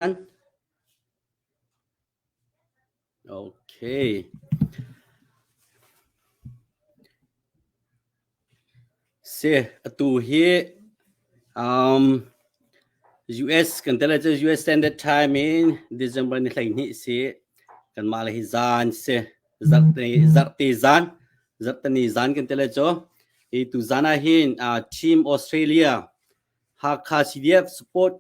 Atu hi US kan tel ahcun US Standard Time in December ni hleihnih si kanmah le hi zan si zarhte zan zarhteni zan kan tel ahcun hi tu zan ah hin Team Australia Hakha CDF support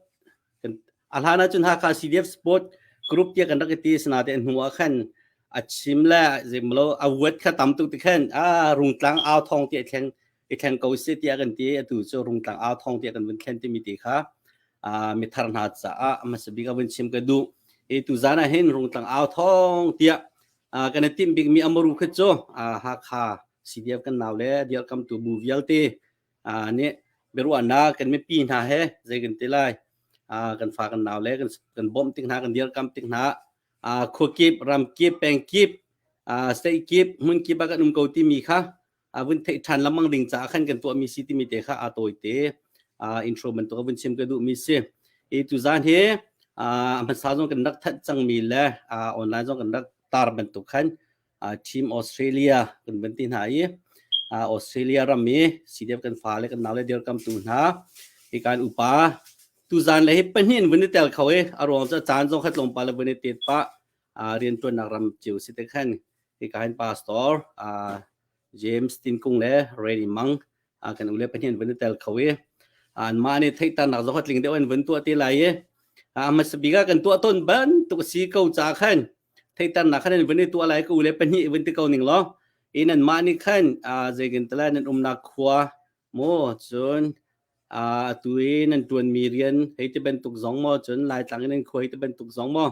a hlan ahcun Hakha CDF support group tia kan rak i ti asinate hnu ah khan a chim le zeimlo a vuat kha tam tuk ti khan a rungtlang au thong ti a thleng i thleng ko sih tiah kan ti atu cu rungtlang au thong tiah kan vun thlen timi ti kha mi thar hna caah hmasabik a vun chim ka duh i tuzan ah hin rungtlang au thong tiah kan i timh bikmi amaru kha cu Hakha CDF kan nau le dialkamtu bu vialte uh, nih biaruahnak kan mipi hna he zei kan ti lai uh, kan fa kan nau le kan kan bom tik hna kan dir kam tik hna uh, khua kip ram kip peng kip uh, state kip mun kip a kan um ko ti mi kha avun thei than lamang ding ca khan kan tuah mi si ti mi te kha a tawi te uh, intro ban to avun chim ka du mi si e tu zan he uh, man sa zong kan rak that chang mi le uh, online zong kan rak tar ban to khan Team Australia kan van ti hna i Australia ram i CDF kan fale kan nau le dirkamtu hna hi kan upa tuzan le hi pahnih in vun i tel kho i a ruang cu caan zong khat longpa le vun i tet pah riantuannak ram cio si te khan hi kan pastor James Tin Kung le Randy Mang kan ule pahnih in vun i tel kho i an mah nih theihtarnak zong khat tling deuh in vun tuah te lai i a hmasa bik ah kan tuah tawn bantuk a si ko ca khan theihternak khan nan vun i tuah lai ka u le pahnih vun ti ko ning law i nan mah nih khan zeikin tala nan umnak khua maw cun atu i nan tuanmi rian hei ti bantuk zong maw cun laitlang i nan khua hei ti bantuk zong maw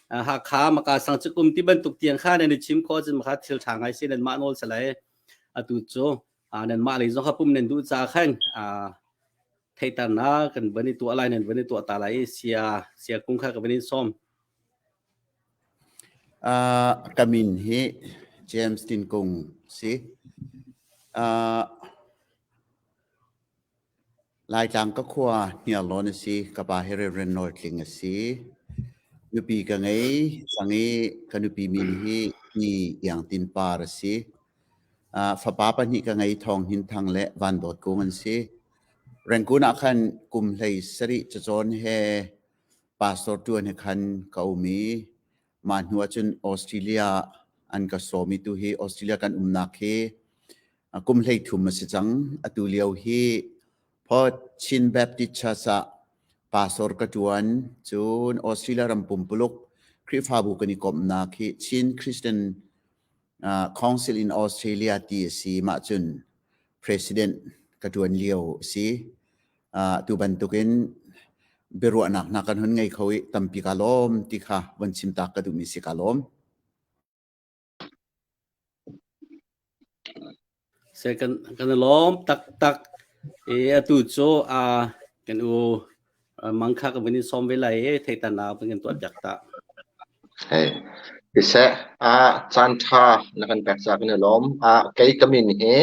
Hakha maka sang cu kum ti bantuk tiang kha nan i chim kho cun maka thil tha ngai si nan mah nawl salai atu cu nan mah lei zong hapum nan duh ca khan theiternak kan van i tuah lai nan van i tuah ta lai i sia sia kung kha ka van in som Ka min hi James Tin Kung si. Laitlang ka khua Hniarlawn a si. Ka pa hi Reverend Nawl Tling a si. Nupi ka ngei. Sang i ka nupi min hi Ni Iang Tin Par a si. Fapa pahnih ka ngei Thawng Hin Thang le Van Dawt Kung an si. Rengkun ah khan kum hlei sarih cacawn he pastor ṭuan he khan ka um i mah hnuah cun Australia an ka sawm i tu hi Australia kan umnak hi kum hleithum a si cang atu lio hi Port Chin Baptist Church ah pastor ka ṭuan cun Australia ram pumpuluk Khrihfabu kan i komnak hi Chin Christian uh, Council in Australia ti a si mah cun president ka ṭuan lio a si uh, tu bantukin biaruahnak hna kan hun ngei kho i tampi ka lawm ti kha von chim tak ka duhmi si ka lawm se kan kan lawm tak tak e atu cho a kan u mangkha ka vini som ve lai e thei ta na ban kan tuat jak ta Siseh ah caan ṭha na kan pek caah kan i lawm. Ah kei ka min hi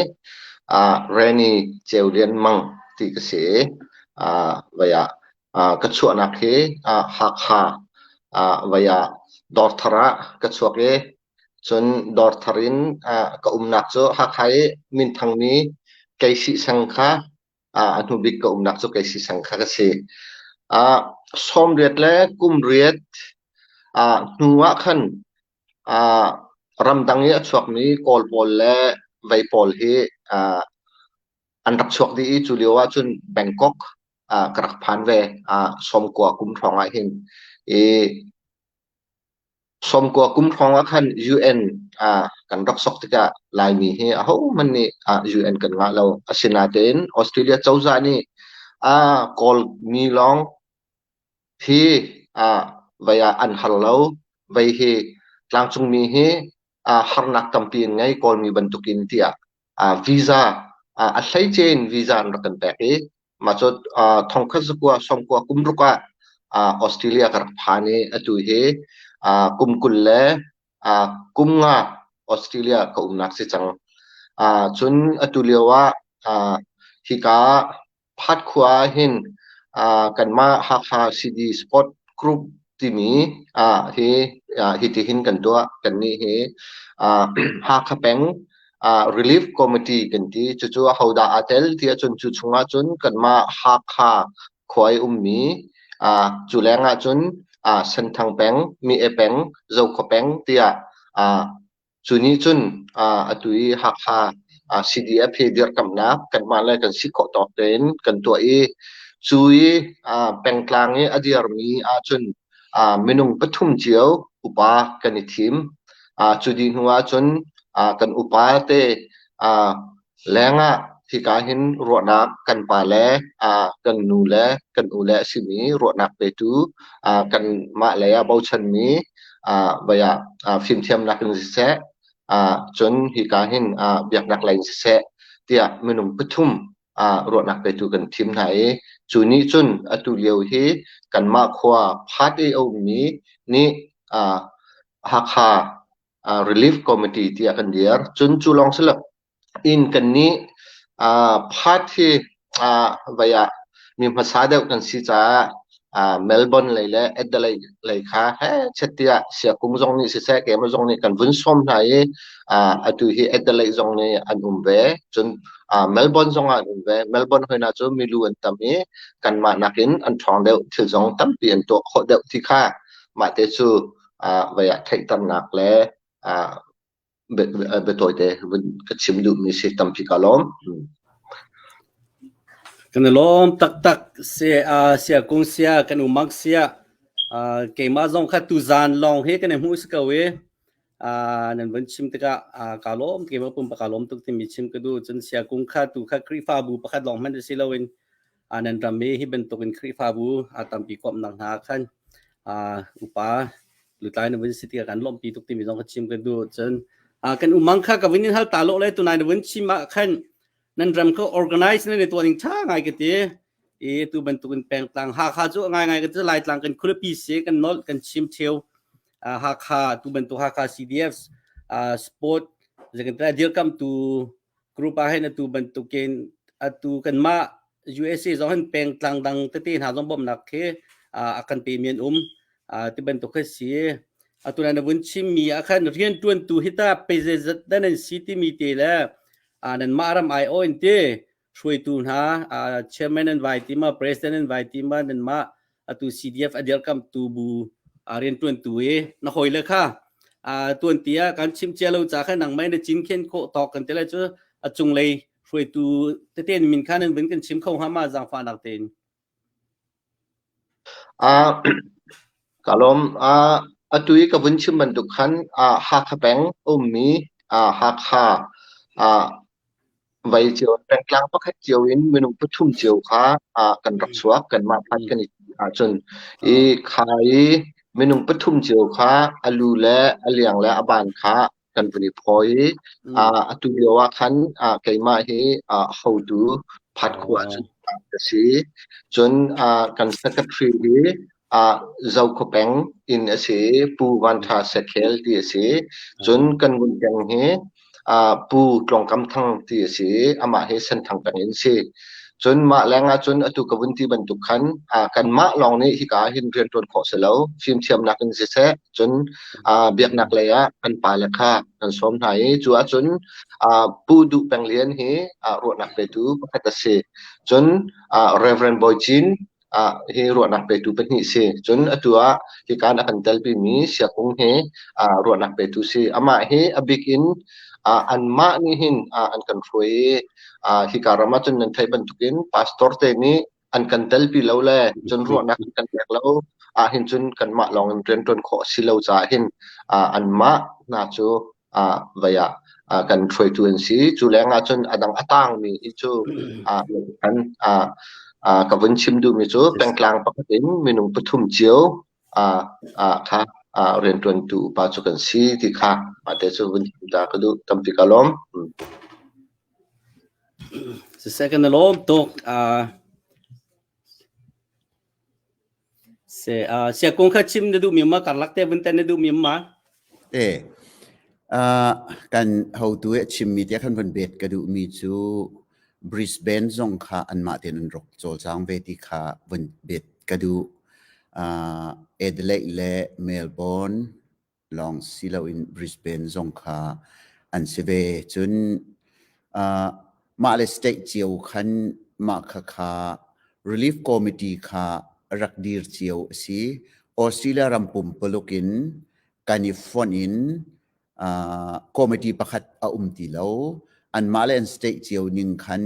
ah Renny Ceu Lian Mang ti ka si i ah vai ah ah ka chuahnak hi ah Hakha ah vai ah Dawrthar ah ka chuak i cun Dawrthar in ah ka umnak cu Hakha i minthang mi Kei Sih Seng kha a hnubik ka umnak cu kei sisang kha ka si. Ah sawmriat le kumriat ah hnu ah khan ah ramdang i a chuakmi kawl pawl le vei pawl hi ah an rak chuak dih i cu lio ahcun Bangkok ah ka rak phan ve. Ah sawmkua kum hrawng ahhin i Sawmkua kum hrawng ah khan UN ah kan rak sok tikah Laimi hi ahohmanh nih UN kan ngah lo. Asinain Australia cozah nih aa kawlmi lawng hi vei ah an hal lo. Vei hi tlangcungmi hi harnak tampi an ngei Kawlmi bantukin tiah visa a hleice in visa an rak kan pek i mah cu thongkhat zakua sawmkua kum ruk ah Australia ka rak phan i atu hi kum kul le kum nga Australia ka umnak si cang. Cun atu lio ah hika Phat khua ah hin kanmah Hakha CD Sport Group timi hi hitihin kan tuah. Kannih hi Hakha peng Relief Committee kan ti. Cucu ahodah aa tel ti ahcun cu chungah cun kanmah Hakha khua i ummi cu leng ahcun Senthang peng, Mie peng, Zokhua peng tiah Cu nih cun atu i Hakha CDF hi dirkamnak kanmah le kan si khawh tawk tein kan tuah i cu i pengtlang i a dirmi ahcun minung pathum cio upa kan i thim. Cu dih hnu ahcun kan upa te Lengah hika hin ruahnak kan pa le kan nu le kan u le a simi ruahnak petu kanmah lei ah bochanmi vei ah fimthiamnak in siseh cun hika hin biaknak lei in siseh tiah minung pathum ruahnak petu kan thim hna i cu nih cun atu lio hi kanmah khua Phat i a ummi nih Hakha relief committee tiah kan dir. Cun cu lawng si lo in kannih part hi vai ah mi hmasa deuh kan si caah Melbourne lei le Adelaide lei kha chatiah Siakung zong nih siseh keimah zong nih kan vun sawm hna i atu hi Adelaide zong nih an um ve. Cun Melbourne zong ah an um ve. Melbourne hoi hna cu milu an tam i kanmah nakin an ṭhawng deuh thil zong tampi an tuah khawh deuh ti kha mahte cu ah vei ah theihternak le ah biatawite vun ka chim duhmi si tampi ka lawm. Kan i lawm taktak sia sia kung sia kan umak sia keimah zong kha tuzan lawng hi kan i hmuh si ko i nan vun chim tikah ka lawm keimah pum pa ka lawm tuk timi chim ka duh cun sia kung kha tu kha Khrihfabu pakhat lawng hmanh si loin nan ram i hi bantukin Khrihfabu a tampi kawm nang hna khan upa lutlai na vun si ti kan lawmpi tuk timi zong ka chim kan du cun kan umang kha ka vin in hal ta lo le tunai na vun chim ah khan nan ram kha organize na ne tuan ning tha ngai ka ti i tu bantukin pengtlang ha kha chu ngai ngai ka chu lai tlang kan khurapi se kan nol kan chim cheu ha kha tu bantu ha kha CDFs sport zekan ta dir kam tu group ah hin atu bantukin atu kanmah USA zong hin pengtlang dang tete hna zong bawmhnak khi a kan pe men um ti bantuk khi si atu na vun chimmi ah khan riantuantu hi ta pezezat dan an si timi te le nan mah ram ai oin te hruaitu hna chairman an vai tima president an vai tima nan mah atu CDF a dirkamtu bu rian tuantu i na hoi le kha a tuan ti a kan chim cia lo ca kha nang mai na cin khen kho tawk kan tele chu a cung lei hruaitu teten min kha nan bin kan chim kho ha ma zang fa nak ten a kalom a atui ka bun chim ban duk khan a ha kha peng um mi a ha kha a Vai cio, pengtlang pakhat cio in minung pathum cio kha ah kan rak chuak. Kanmah phanh kan i tim ahcun. I kha i minung pathum cio kha a lu le a liang le a ban kha kan vun i phawi. Ah atu lio ah khan ah keimah hi ah hotu phat khua cu ka si. Cun ah kan secretary hi ah Zokhaw peng inn a si i Pu Van Ṭha Sakhel ti a si. Cun kan vun peng hi ah Pu Tlawng Kam Thang ti a si i amah hi Senthang peng in si. Cun mah leng ahcun atu ka vun ti bantuk khan ah kanmah lawng nih hika ah hin rian ṭuan khawh si lo. Fimthiamnak in siseh, cun ah biaknak lei ah kan pale kha kan sawm hna i cu ahcun ah Pu Duh Peng Lian hi ah ruahnak petu pakhat a si. Cun ah Reverend Bawi Cin ah hi ruahnak petu pahnih si. Cun atu ah hika na kan telpi mi Siakung hi ah ruahnak petu si. Amah hi a bik in ah anmah nih hin ah an kan hruai i ah hika ram ah cun nan theih bantukin pastor te nih an kan telpi lo le cun ruahnak an kan pek lo ah hin cun kanmah lawng in rian ṭuan khawh a si lo caah hin ah anmah hna cu ah vei ah ah kan hruaitu an si. Cu leng ahcun a dang a tangmi hi cu ah an ah ah ka vun chim duhmi cu pengtlang pakhat in minung pathum cio ah ah kha ah rianṭuantu upa cu kan si ti kha mate cu vun chim ta ka duh tampi ka lawm. Mm. It's the second alum tuk uh Siakung kha chim na duhmi ma? Karlak te vun ten na duhmi ma? Te. Uh, kan hotu e chimmi tia kan von bet ka duhmi cu Brisbane zong kha anmah tein an ruk cawlcang ve ti kha von bet ka duh. Uh, Adelaide le Melbourne lawng si loin Brisbane zong kha an si ve. Cun uh, mah le state cio khan mah kha kha relief committee kha rak dir cio a si. Australia ram pumpuluk in kan i fonh in uh, committee pakhat a um ti lo. An mah le an state cio ning khan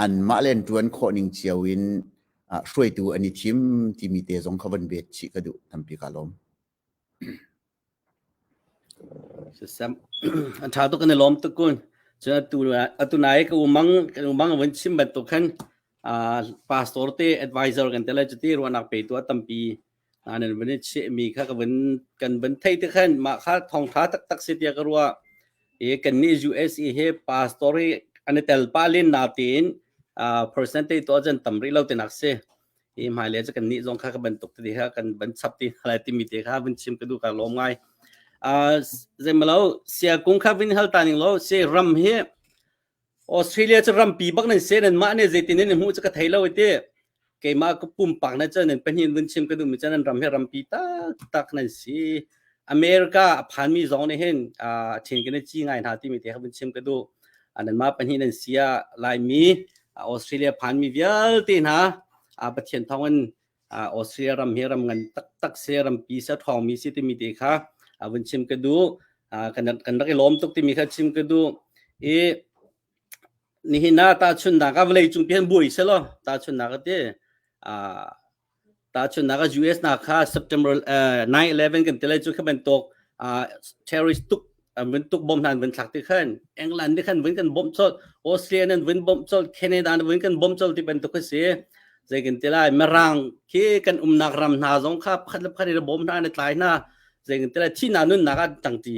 an mah le an tuan khawh ning cio in uh, hruaitu an i thim timi te zong kha van bet chih ka duh tampi ka lawm. Sasam an ṭha tuk kan i lawm tuk kun. Cun atu nai ka u mang kan u mang a vun chim bantuk khan pastor te advisor kan te le cuti ruahnak pe tu a tampi hna nan vun i chehmi kha ka vun kan vun thei te khan mah kha thawngṭha taktak si tiah ka ruah. I kannih USA he pastor hi an i tel pah len na tein percentage tu ahcun tam rih lo tinak si. i hmailei cu kan nih zong kha ka bantuk ti kha kan ban chap ti hna lai timi te kha vun chim ka duh ka lawm ngai uh, zeimalo sia kung kha vin hal ta ning lo se ram hi australia chu rampi bak nan se nan mah ne zeitin nan hmu chu ka thei lo ti keimah ka pumpak na chan nan pahnin vun chim ka duh mi chan ram hi rampi tak tak nan si America a phanmi zong nih hin a ṭhen kan i ci ngai hna timi te kha vun chim ka duh. Nanmah pahnih nan si ah Laimi Australia phanmi vialte hna Pathian thawngin Australia ram hi ram ngan taktak si, rampi si, ṭhawngmi si timi te kha vun chim ka duh. Kan rak i lawm tuk timi kha chim ka duh. I Nihin ah tahchunhnak ah vawleicung pi an buai selaw tahchunhnak a ti. Ah, tahchunhnak ah US hna kha September eh, 9-11 kan ti lai cu kha bantuk ah, terrorist tuk ah, vun tuk bom hna an vun thlak ti khan England nih khan vun kan bom chawlh Australia nih an vun bom chawlh Canada nih vun kan bom chawlh ti bantuk a si zei kan ti lai Mirang khi kan umnak ram hna zong kha pakhat le pakhat in bom hna an i tlai hna zei kan ti lai thihna nunnak ah an tang ti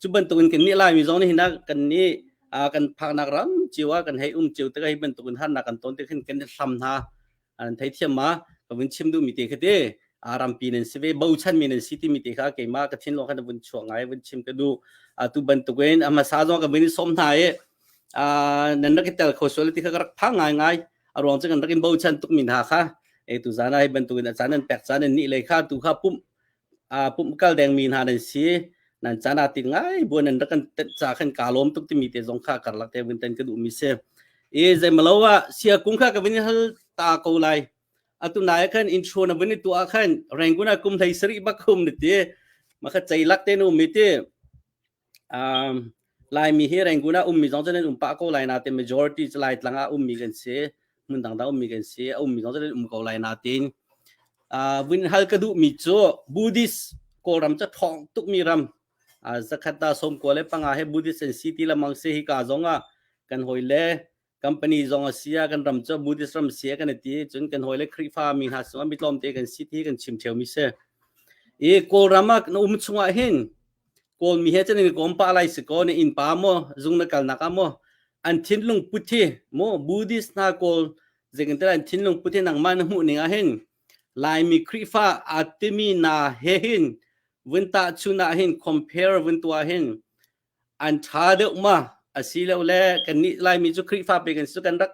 cu bantukin kan nih laimi zong nih hinak kan nih kan phaknak ram cio ah kan hei um cio tik hei bantukin harnak kan ton tik hin kan hlam hna an thei thiam ma ka vun chim duh mi te khate rampi nan si ve bochan mi nan si ti mi te kha keima ka thin lo khan vun chuang ngai vun chim ka du tu bantukin ama sa zong ka vin som hna e nan rak tel kho sol ti kha rak phang ngai ngai aruang chu kan rak in bochan tuk min ha kha e tu zana hi bantukin achan nan pek chan nan ni le kha tu kha pum pumhkal dengmi hna nan si nan caan ah tik ngai buan nan rak kan ca khan ka lawm tuk timi te zong kha karlak te vun ten ka duhmi si e zeimalo ah sia kung kha ka vin hal ta ko lai atu nai khan intro na vin tu a khan renguna kum thai sari bak khum ni ti makha cei lak te nu mi ti Laimi hi Rangoon ah ummi zong cu nan um pah ko lai natein majority cu Laitlang ah ummi kan si, hmun dangdang ummi kan si, a ummi zong cu nan um ko lai natein vun hal ka duhmi cu Buddhist Kawlram cu ṭhawng tukmi ram zakhat da sawmkua le panga he Buddhist an si ti lengmang si. Hika zong ah kan hawi le company zong a si a kan ram cu Buddhist ram si a kan ti cun kan hawile Khrihfa mi hna sungah mitlawm te kan si ti kan chim theo mi si i kawlram ah na um chungah hin kawl mi he chan in kom pa lai si ko ne in pa mo zung na kal nak a mo an thin lung put hi mo buddhist na kawl zekin tela an thin lung put hi nang ma na mu ning a hin lai mi Khrihfa atimi na he hin vun ta chu na hin compare vun tua hin an ṭha deuh ma asilole kannih Laimi cu Khrihfa pe kan si cu kan rak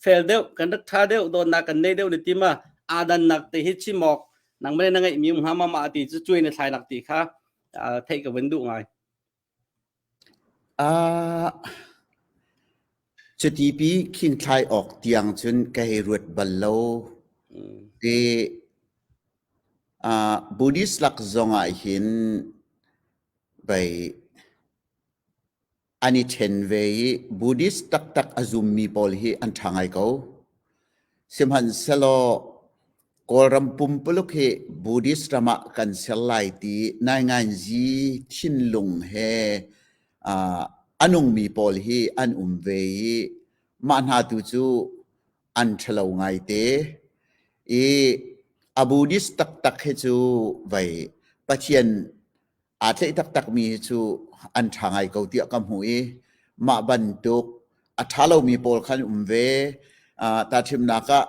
fel deuh kan rak ṭha deuh dawtnak kan nei deuh le ti ma aa dannak te hi chim awk nangmah le na ngeihmi um hnga mama ti cu cuai na thlainak ti kha theih ka vun duh ngai. Uh, Cutipi khinthlai awk tiang cun ka hei ruat bal lo. Ti ah Buddhist lak zong ahhin pei an i ṭhen ve i Buddhist taktak a zummi pawl hi an ṭha ngai ko. Sihmanhsehlaw Kawlram pumpuluk hi Buddhist ram ah kan ser lai ti naingainzi thinlung he uh, a nungmi pawl hi an um ve i mah hna tu cu an ṭhalo ngaite. I a Buddhist taktak hi cu vei Pathian aa tleih taktakmi hi cu an ṭha ngai ko tiah ka hmuh i mah bantuk a ṭha lomi pawl kha an um ve. Uh, tahchimnak ah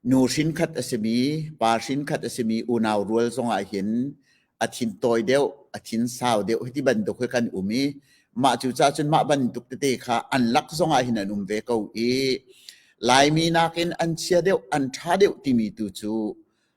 nu hrinkhat a simi pa hrinkhat a simi unau rual zongah hin a thin tawi deuh a thin sau deuh hiti bantuk hi kan um i mah cu cahcun mah bantuk tete kha an lak zongah hin an um ve ko i Laimi nakin an chia deuh an ṭha deuh timi tu cu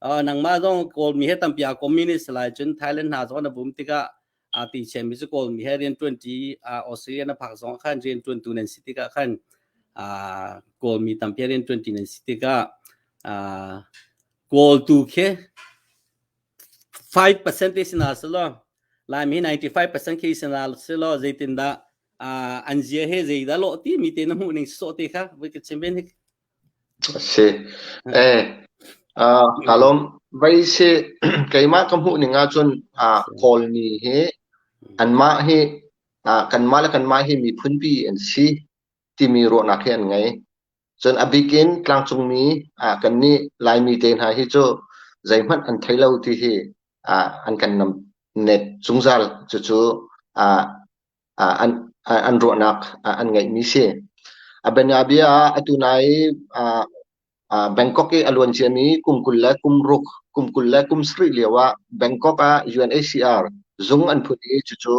nangmah zong kawlmi he tampi aa communist lai cun Thailand hna zong na vum tikah aa ti chiami cu kawlmi he rianṭuanṭi Australia na phak zong khan rianṭuantu nan si tikah khan kawlmi tampi rianṭuanṭi nan si tikah kawl tu khi 5% te sina silo laimi 95% ke sina silo zeitindah an zia he zeidah lo ti mi te na hmuh ning so te kha voi ka chim ben Ka lawm. Vaise keimah ka hmuhning ahcun Kawl mi hi anmah hi kanmah le kanmah hi miphunpi an si timi ruahnak hi an ngei. Cun a bik in tlangcungmi kannih Laimi te hna hi cu zeihmanh an thei lo ti hi an kan net zungzal. Cucu an ruahnak an ngeihmi a si. A bianabia ah atu nai Bangkok i a luan ciami kum kul le kum ruk, kum kul le kum sarih lio ah Bangkok ah UNHCR zung an phut i cucu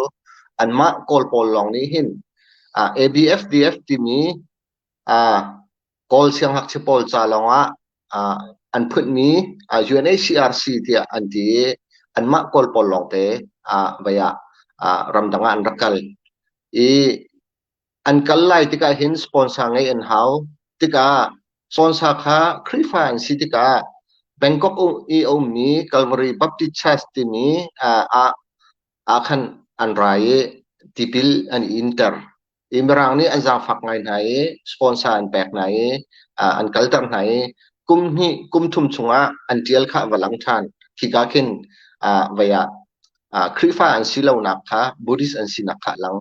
anmah Kawl pawl lawng nih hin ABFDF timi Kawl siangngakchia pawl ca lawngah ah an phunhmi UNHCRC tiah an ti i anmah Kawl pawl lawngte ah vei ah ah ramdang ah an rak kal. I an kal lai tikah hin sponsor ngei an hau. Tikah sponsor kha Khrihfa an si tikah Bangkok um- i a ummi Calvary Baptist Church timi ah ah ah khan an ra i tipil an i inter. i Mirang nih an zaangfak ngai hna i sponsor an pek hna i an kalter hna i kum hnih kum thum chungah an ṭial kha va lang ṭhan khika khin vei ah Khrihfa an si lonak kha Buddhist an sinak kha a lang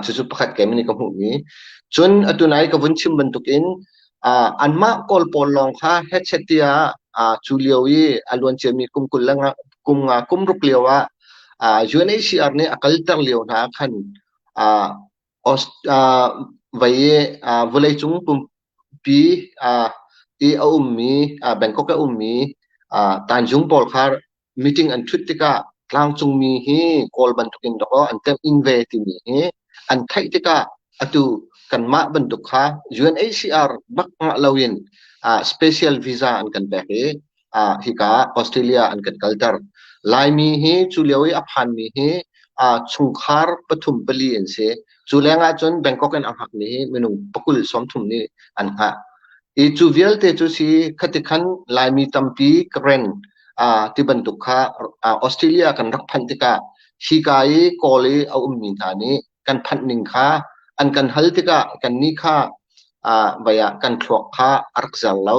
cucu pakhat keimanh nih ka hmuhmi cun atu nai ka vun chim bantukin anmah kawl pawl lawng kha headset tia cu lio i a luan ciami kum kul le kum nga kum ruk lio ah UNHCR nih a kalter lio hna khan Vawlei cung pumpi i a ummi Bangkok i a ummi Tanjung pawl kha meeting an ṭhut tikah tlangcungmi hi Kawl bantukin dawkaw an temhin ve timi hi an theih tikah atu kanmah bantuk kha UNHCR bak ngah loin special visa an kan pek i ah hika Australia an kan kalter. Laimi hi cu lio i a phanmi hi ah chungkhar pathum pali an si. Cu leng ahcun Bangkok in a hngakmi hi minung pakul sawmthum nih an hngah. I cu vialte cu si khatikhan Laimi tampi Karen ah ti bantuk kha ah Australia kan rak phanh tikah hika i Kawl i a ummi hna nih kan phanh ning kha an kan hal tikah kannih kha ah vai ah kan thluak kha a rak zar lo.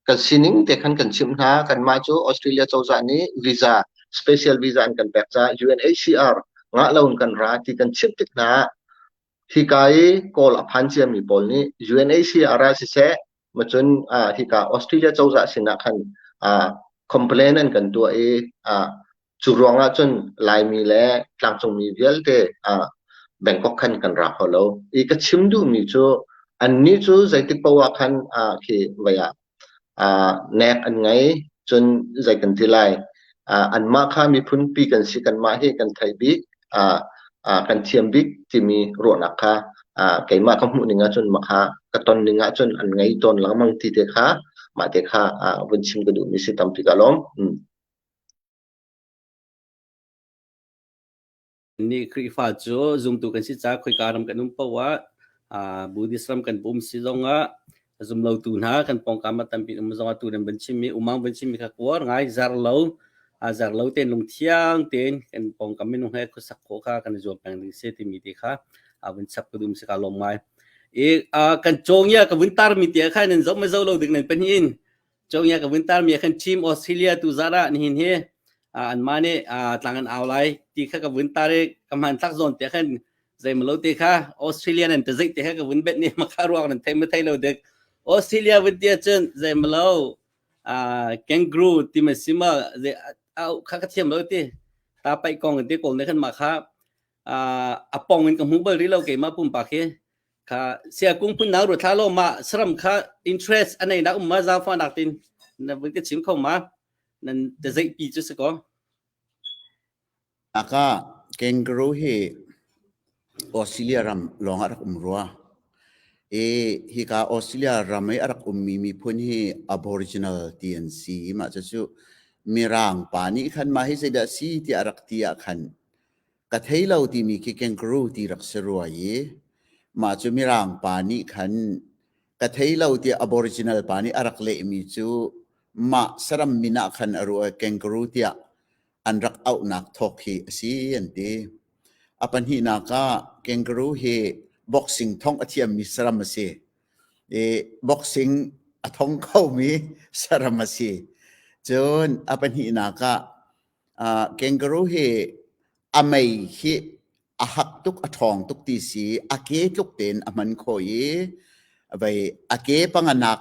kan sining te khan kan chimh hna. Kanmah cu Australia cozah nih visa, special visa an kan pek caah UNHCR ngah loin kan ra ti kan chimh tik hna ah hika i kawl a phan ciami pawl nih UNHCR ah siseh macun ah hika Australia cozah sinah khan ah complain an kan tuah i ah Cu ruangah cun Laimi le tlangcungmi vialte ah Bangkok khan kan ra kho lo. I ka chim duhmi cu annih cu zeitik paoh ah khan ah khi voi ah ah nek an ngei. Cun zei kan ti lai, ah anmah kha miphunpi kan si, kanmah hi kan theih bik, ah ah kan thiam bik timi ruahnak kha ah keimah ka hmuhning ahcun mah kha ka tonning ahcun an ngei tawn lengmang ti te kha mah te kha ah vun chim ka duhmi si tampi ka lawm. Mm. Nih Khrihfa cu zumtu kan si caah khoika ram kan um paoh ah aa Buddhist ram kan pum si zong ah zumlotu hna kan pawngkam ah tampi um zong ah tu nan van chimmi umaung van chimmi kha kuar ngai zer lo aa zer lo tein lungthiang tein kan pawngkam minung he khuasak khawh kha kan i zuam peng ding si timi te kha aa vun chap ka dum si ka lawm ngai. I aa kan cawng ia ka vun tarmi te kha nan zoh ma zo lo ding nan pahnih in Chowia ka winter mi kan team Australia tu zara nihin hi an ma ne tlang an au lai ti kha ka winter e ka man thak zon te khan zai malo te kha Australia nan te zai te kha ka win bet ni ma kha ruak nan thei ma thei lo dek Australia win tia chun zai malo kangaroo ti ma sima zai au kha ka thiam lo ti ta pai kong te kol ne khan ma kha a pong in ka hmu bal rih lo keimah pumpak hi kha sia kung phun nau ru thla lo ma saram kha interest anei nak um ma za fa nak tin na vun ka chim kho ma nan te zei pi chu sako aka kangaroo hi australia ram long arak um rua e hi ka australia ram i arak um mi mi phun hi aboriginal ti an si ma cha chu mirang pa ni khan ma hi se da si ti arak ti a khan Ka thei lo timi khi kangaroo ti rak si rua i mah cu Mirang pa nih khan ka thei lo tiah Aboriginal pa nih a rak lehmi cu mah saram min ah khan a ruah i kangaroo tiah an rak auhnak thawk hi a si an ti. A pahnihnak ah kangaroo hi boxing thong a thiammi saram a si i boxing a thong khomi saram a si. Cun a pahnihnak ah kangaroo hi a mei hi a hak tuk a ṭhawng tuk ti si a ke tluk tein a hman kho i vei a ke panga nak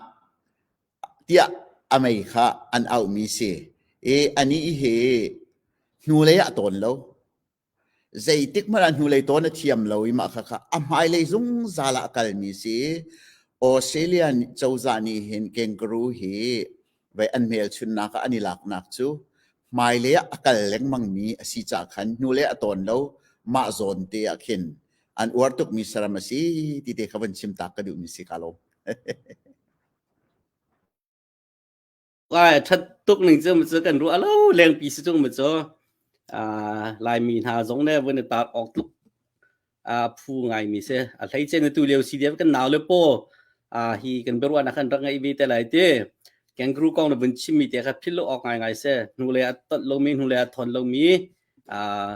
tiah a mei kha an auhmi si i a nih hi hnulei ah tawn lo. Zeitikhmanh ah hnulei taw na thiam lo i mah khakha a hmailei zungzal ah a kalmi a si. Australia cozah nih hin kangaroo hi vei an hmelchunhnak ah an i laknak cu hmailei ah a kal lengmangmi a si caah khan hnulei a tawn lo mah zawn te ah khin an uar tukmi saram a si ti te kha van chim taak ka duhmi si ka lawm. Ai, a ṭhat tuk ning cu macaw kan ruah lo lengpi si ṭung macaw, ah, Laimi hna zong le voin i taar awk tluk, ah, phu ngaimi si. A hleice na tulio si dih ah kan nau le paw, ah, hi kan biaruahnak an rak ngeih ve te lai ti. Kangaroo kong na vun chimmi te kha philh lo awk ngaingai si. Hnulei a tolh lomi, hnulei a thawn lomi, ah,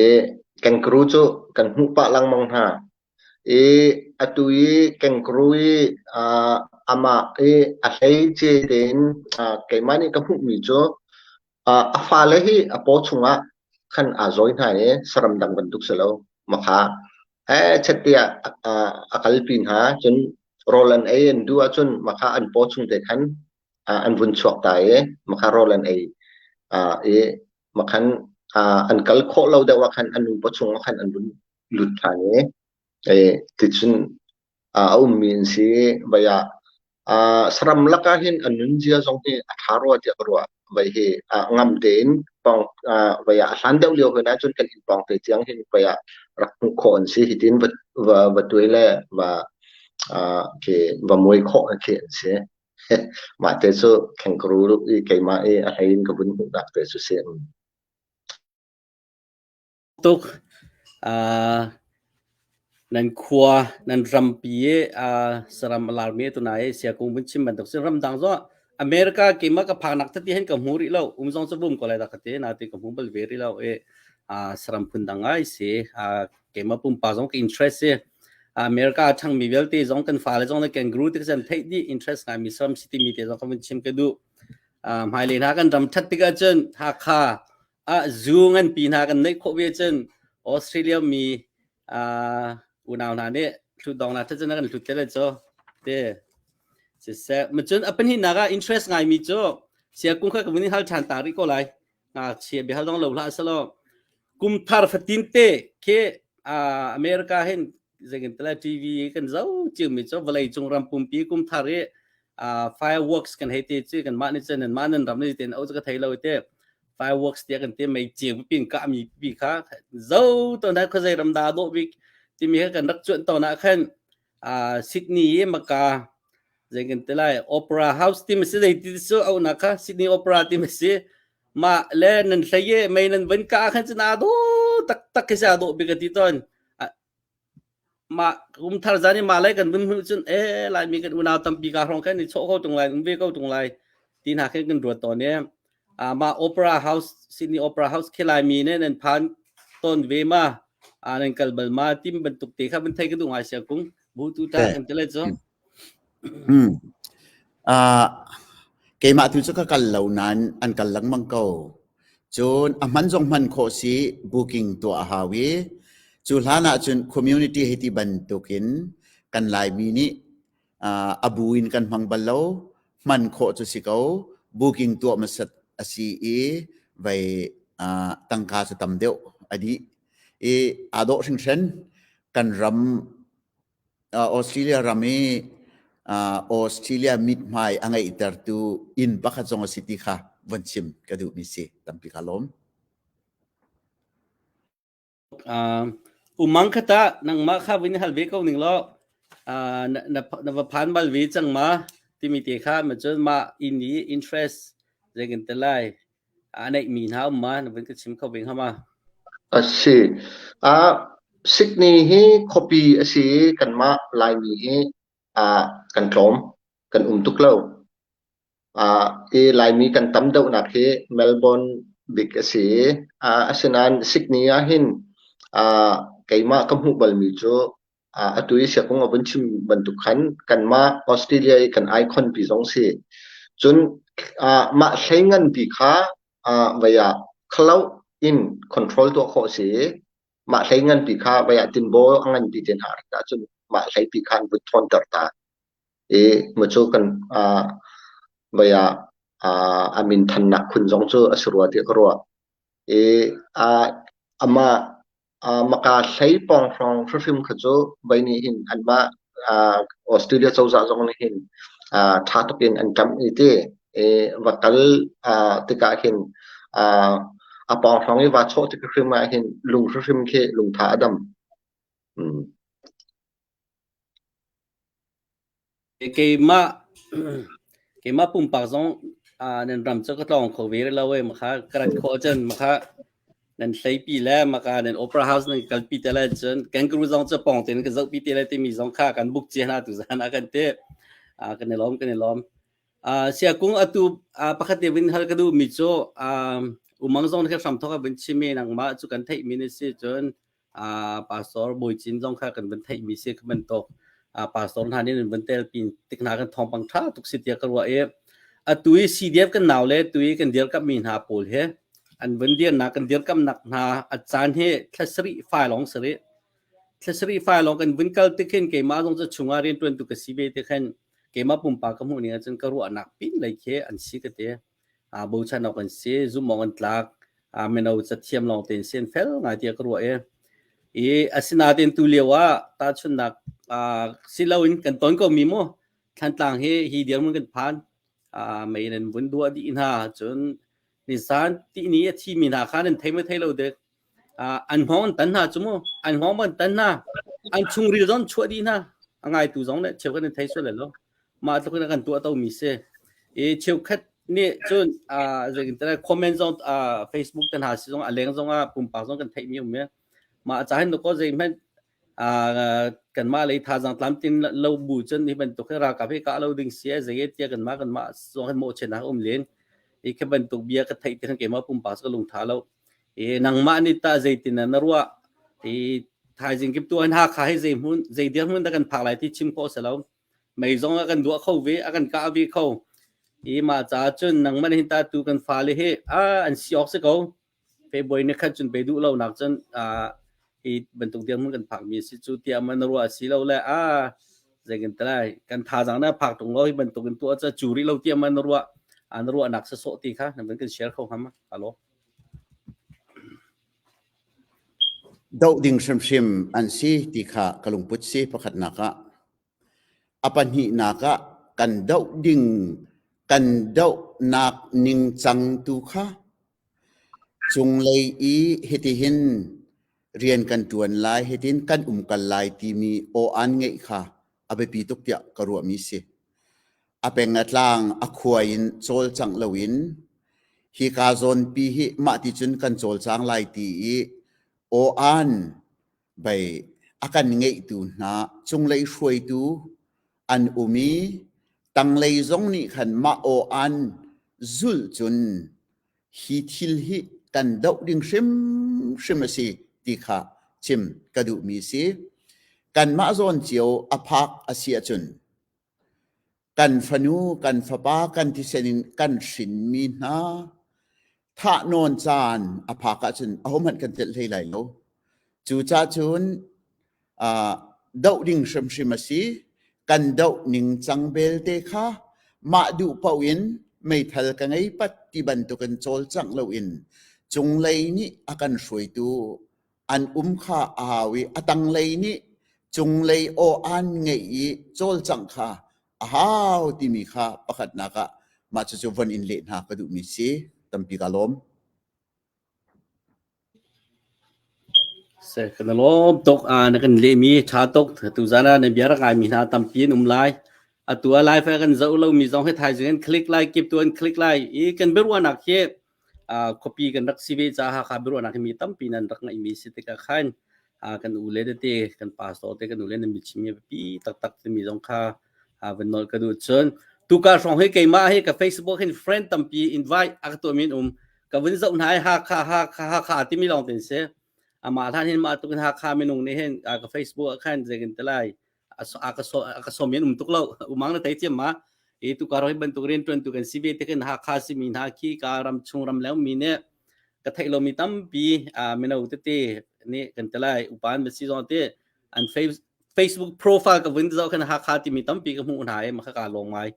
I kengkuru cu kan hmuh pah lengmang hna. I atu i kengkuru i aa amah i a hleice tein aa keimah nih ka hmuhmi cu aa a fale hi a paw chungah khan aa zawi hna i saram dang bantuk si lo makha. Eh chatiah aa a kalpi hna cun rawl an ei an duh ahcun makha an paw chung te khan aa an vun chuak ta i makha rawl an ei aa i Makhan ah an kal khawh lo deuh ahkhan an nupa chung ahkhan an vun lut ṭhan i e ticun a ummi an si vai ah saram lakah hin an nunzia zong hi a ṭha rua tiah ka ruah. Vai hi ngam tein pawng vai ah a hlan deuh lio hoi nahcun kan inn pawng te tiang hin vai ah rak hmuh khawh an si. Hitin va tuai le va va muai khawh khi an si. Mahte cu khenkhru i keimah i a hlei in ka vun hmuhnak te cu si. Tuk ah nan khua nan rampi i saram a laarmi tuna i siakung vun chim bantuk si. Ramdang zong America keimah ka phaknak tati hen ka hmu rih lo. Um zong cu vum ko lai dah ka ti. Na ti ka hmu bal ve rih lo i saram phun dang ai si. Keimah pumpak zong ka interest si. America a ṭhangmi vialte zong kan fale zong le kangaroo tikah cun theih dih interest ngaimi Sram City mi te zong kan vun chim ka duh. Hmailei hna kan ram ṭhat tikah cun Hakha ah zoo nganpi hna kan neih khawh ve cun Australia mi unau hna nih hlutdong hna ṭhat cun a kan hlut te le cu te siseh. Macun a pahnihnak ah interest ngaimi cu Sia Kung kha ka vun i hal ṭhan ta rih ko lai. ngakchia bia hal dong lo hlah salo kum thar fatin te khi america hin zekin tala tv kan zo chiu mi cho vlei cung ram pumpi kum thar i fireworks kan hei te chi kan ma ni chen ma nan ram ni ten au ka thei lo te fireworks tia kan te mai chiu pin ka mi pi kha zo to na kho zai ram da do bik timi kan rak chuan to na khan Sydney i maka zei kan ti lai opera house ti a si zei ti cu auhnak kha Sydney opera ti a si mah le nan hlei i mei nan vun kah khan cun aa dawh taktak khi sih aa dawh bik a ti tawn mah kum thar zan i mah lei kan vun hmuh cun e laimi kan unau tampi kaa hrawng khan i chawh kho ṭung lai um ve ko ṭung lai ti hna khin kan ruat tawn i mah opera house Sydney opera house khelai mi ne nan phan ton ve ma nan kal bal ma tim bantuk te kha ban thai ka du ngai sia kung bu tu ta kan tele cho hmm ah keimah tu chu ka kal lo nan an kal lang mang ko cun a man zong man kho si booking to a hawi cu hlana cun community hiti bantukin kan lai mi ni uh, abu in kan hmang bal lo hman khawh cu si ko booking tuah masat asi i vai uh, tangka sa tam deuh adi i ado hringhren kan ram uh, Australia ram i uh, Australia mit hmai angei tertu in pakhat zong asi ti kha von chim ka duh mi si tampi ka lawm umang khat ah nangmah kha vin hal ve ko ning law na va phan bal ve cang ma timi te kha ma cun mah inn i interest zei kan te lai a neih mi hna um ma na vin ka chim kho ve hama a si a Sydney hi khuapi a si i kanmah Laimi hi kan tlawm kan um tuk lo Laimi kan tam deuhnak hi Melbourne bik a si i asinain Sydney ahhin keimah ka hmuh balmi cu atu i siakung a vun chim bantuk khan kanmah Australia i kan icon-pi zong si. Cun mah hlei nganpi kha vai ah cloud in control tuah khawh a si i mah hlei nganpi kha vai ah tinbaw a nganpi te hna rak ahcun mah hlei pi kha an vun ṭhawnter ta. i hmucu kan ah vei ah aa a minthannak khun zong cu a si rua tiah ka ruah. I aa amah aa maka hlei pawng hrawng hrimhrim kha cu vei nih hin anmah aa Australia cozah zong nih hin aa ṭha tuk in an kamh i ti. I va kal aa tikah hin aa a pawng hrawng i va chawh tik hrimhrim ah hin lung hrimhrim khi lungtha a dam. Mm. Keimah keimah pumpak zong nan ram cu ka tlawng kho ve rih lo ee. Maka ka rat khawh ahcun maka nan hleipi le maka nan opera house nan kalpi te lai cun kangaroo zong cu pawng tein ka zohpi te lai timi zong kha kan book cia hna tu zan ah kan ti. Kan i lawm, kan i lawm. Siakung atu pakhat te vin hal ka duhmi cu umang zong nih hram thawk a vun chim i nangmah cu kan theihmi na si cun pastor Bawi Cin zong kha kan van theihmi si ka bantuk pastor hna nih van tel pin tik hna kan thawngpang ṭha tuk si tiah ka ruah i atu i CDF kan nau le tu i kan dirkamhmi hna pawl he an van dirnak kan dirkamnak hna a caan hi thlasarih fa lawng sarih thlasarih fa lawng kan vun kal te khin keimah zong ca chungah rianṭuan tu ka si ve te khan keimah pumpak ka hmuh ni ahcun ka ruahnak pin lei khi an si ka ti aa bochan awk an si. Zumhawng an tlak. mino cathiam lawng tein si an fel ngai tiah ka ruah i i asinain tu lio ah tahchunhnak si loin kan ton komi mu thantlang hi hi dirmun kan phan mei nan vun duah dih hna cun nisan ti ni a thimi hna kha nan thei maw thei lo dek An hngawng an tan hna cu mu. An hngawng an tan hna. An chungril zong chuah dih hna. A ngaitu zong le cheukhat an thei sual lo lo. Mah tluk in a kan tuah tomi si. I cheukhat nih cun zeitintiah comment zong Facebook te hna si zong a leng zong ah pumpak zong kan theihmi a um i mah a caan hin kaw zeihmanh kanmah lei thazaang tlamtlin lo bu cun hi bantuk hi ralkap hi kah lo ding si ai zei tiah kanmah kanmah zong hi mawhchiat hak um len hi khi bantuk bia ka theih ti khan keimah pumpak ka lungtha lo i nangmah nih tah zeitin na ruah i thaizing kip tu an hakha hi zei hmun zei dirhmun dah kan phak lai ti chim khawh se lo mei zong a kan duah kho ve a kan kah ve kho i mah caah cun nangmah hin ta tu kan fale hi a an si awk si ko February ni khat cun pe duh lo nak cun uh, hi bantuk dirhmun kan phak mi a si cu tiah man na ruah a si lo le a zei kan te lai kan thazaang na phak tung lo hi bantuk in tuah ca cu rih lo tiah man na ruah an ruah nak sa sawh ti kha nan kan share kho ngam alo doh ding hrimhrim an si ti kha ka lungput si pakhat nak ah A pahnihnak ah kan doh ding kan dohnak ningcang tu kha cunglei i hitihin rian kan ṭuan lai, hitin kan umkal lai timi aw-aan ngeih kha a biapi tuk tiah ka ruahmi a si. A peng a tlang a khua in cawlcangh loin hika zawnpi hi mah ti cun kan cawlcang lai ti i aw-aan Bei a kan ngeihtu hna cunglei hruaitu an um i tanglei zong nih khan mah aw an zulh cun hi thil hi kan doh ding hrimhrim a si ti kha chim ka duhmi si. Kanmah zawn cio a phak a si ahcun Kan fanu, kan fapa kan thisen in kan hrinmi hna thahnawn caan a phak ahcun ahohmanh kan telh hlei lai lo. Cucacun aa doh ding hrimhrim a si. Kan doh ningcang belte kha mah duh paoh in meithal ka ngei pat ti bantukin cawlcangh loin cunglei nih a kan hruaitu An um kha a hau i a tanglei nih cunglei aw aan ngeih i cawlcangh kha a hau timi kha pakhatnak ah mah cucu von in leh hna ka duhmi si tampi ka lawm. Se kan lawm tok a na kan lemi tha tok tu zana na bia rak mi hna tampi an um lai atu lai fa kan zo lo mi zong he thai zing an click lai kip tu an click lai i kan berwa nak hi khuapi kan rak si ve caah Hakha biaruahnak hi mi tampi nan rak ngaihmi si tikah khan kan ule tete kan pastor te kan ule nan bichimmi biapi taktak timi zong kha van nawl ka duh cun tuka hrawng hi keimah hi ka Facebook hin friend tampi invite a ka tuahmi um ka vun zoh hna Hakha Hakha Hakha timi lawng tin si amah hlan hin mah tukin Hakha minung nih hin ka Facebook khan zekin te lai a ka som in um tuk lo umang na tai chiam ma e tu ka roi ban tuk rian tuan tu kan si ve te kan ha kha si mi na ki ka ram chung ram lew mi ne ka thai lo mi tam pi a meno te te ne kan telai upan ma si zon te an facebook profile ka vun zo kan ha kha ti mi tam pi ka mu na e ma ka long mai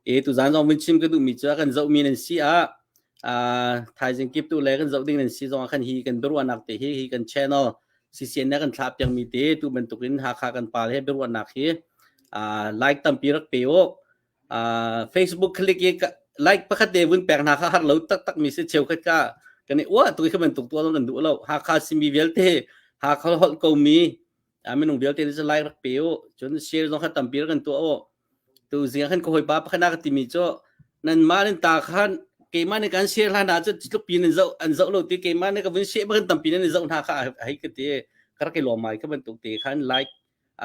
e tu zan zong vin chim ka du mi cha kan zo mi nan si a a thaizing kip tu le kan zo ding nan si zong kan hi kan durwa nak te hi hi kan channel CCN ne kan thlah piang mi te tu bantuk in Hakha kan pa le biaruahnak hi uh, like tampi rak pe u uh, Facebook click i like pakhat te vun pek hna kha har lo tak tak mi se cheu khat ka kan i uah tu kha bantuk tu nan du lo Hakha simi vialte Hakha holh ko mi minung vialte ni like rak pe u cun share zong kha tampi kan tu u Tuzing ah khan ka hawipa pakhat ka timi cu nanmah nan ta khan keimah nih kan share hlan ahcun tlupi nan zoh an zoh lo ti keimah nih ka vun share bakin tampi nan zoh hna kha hei ka ti ka rak i lawm mai ka bantuk te khan like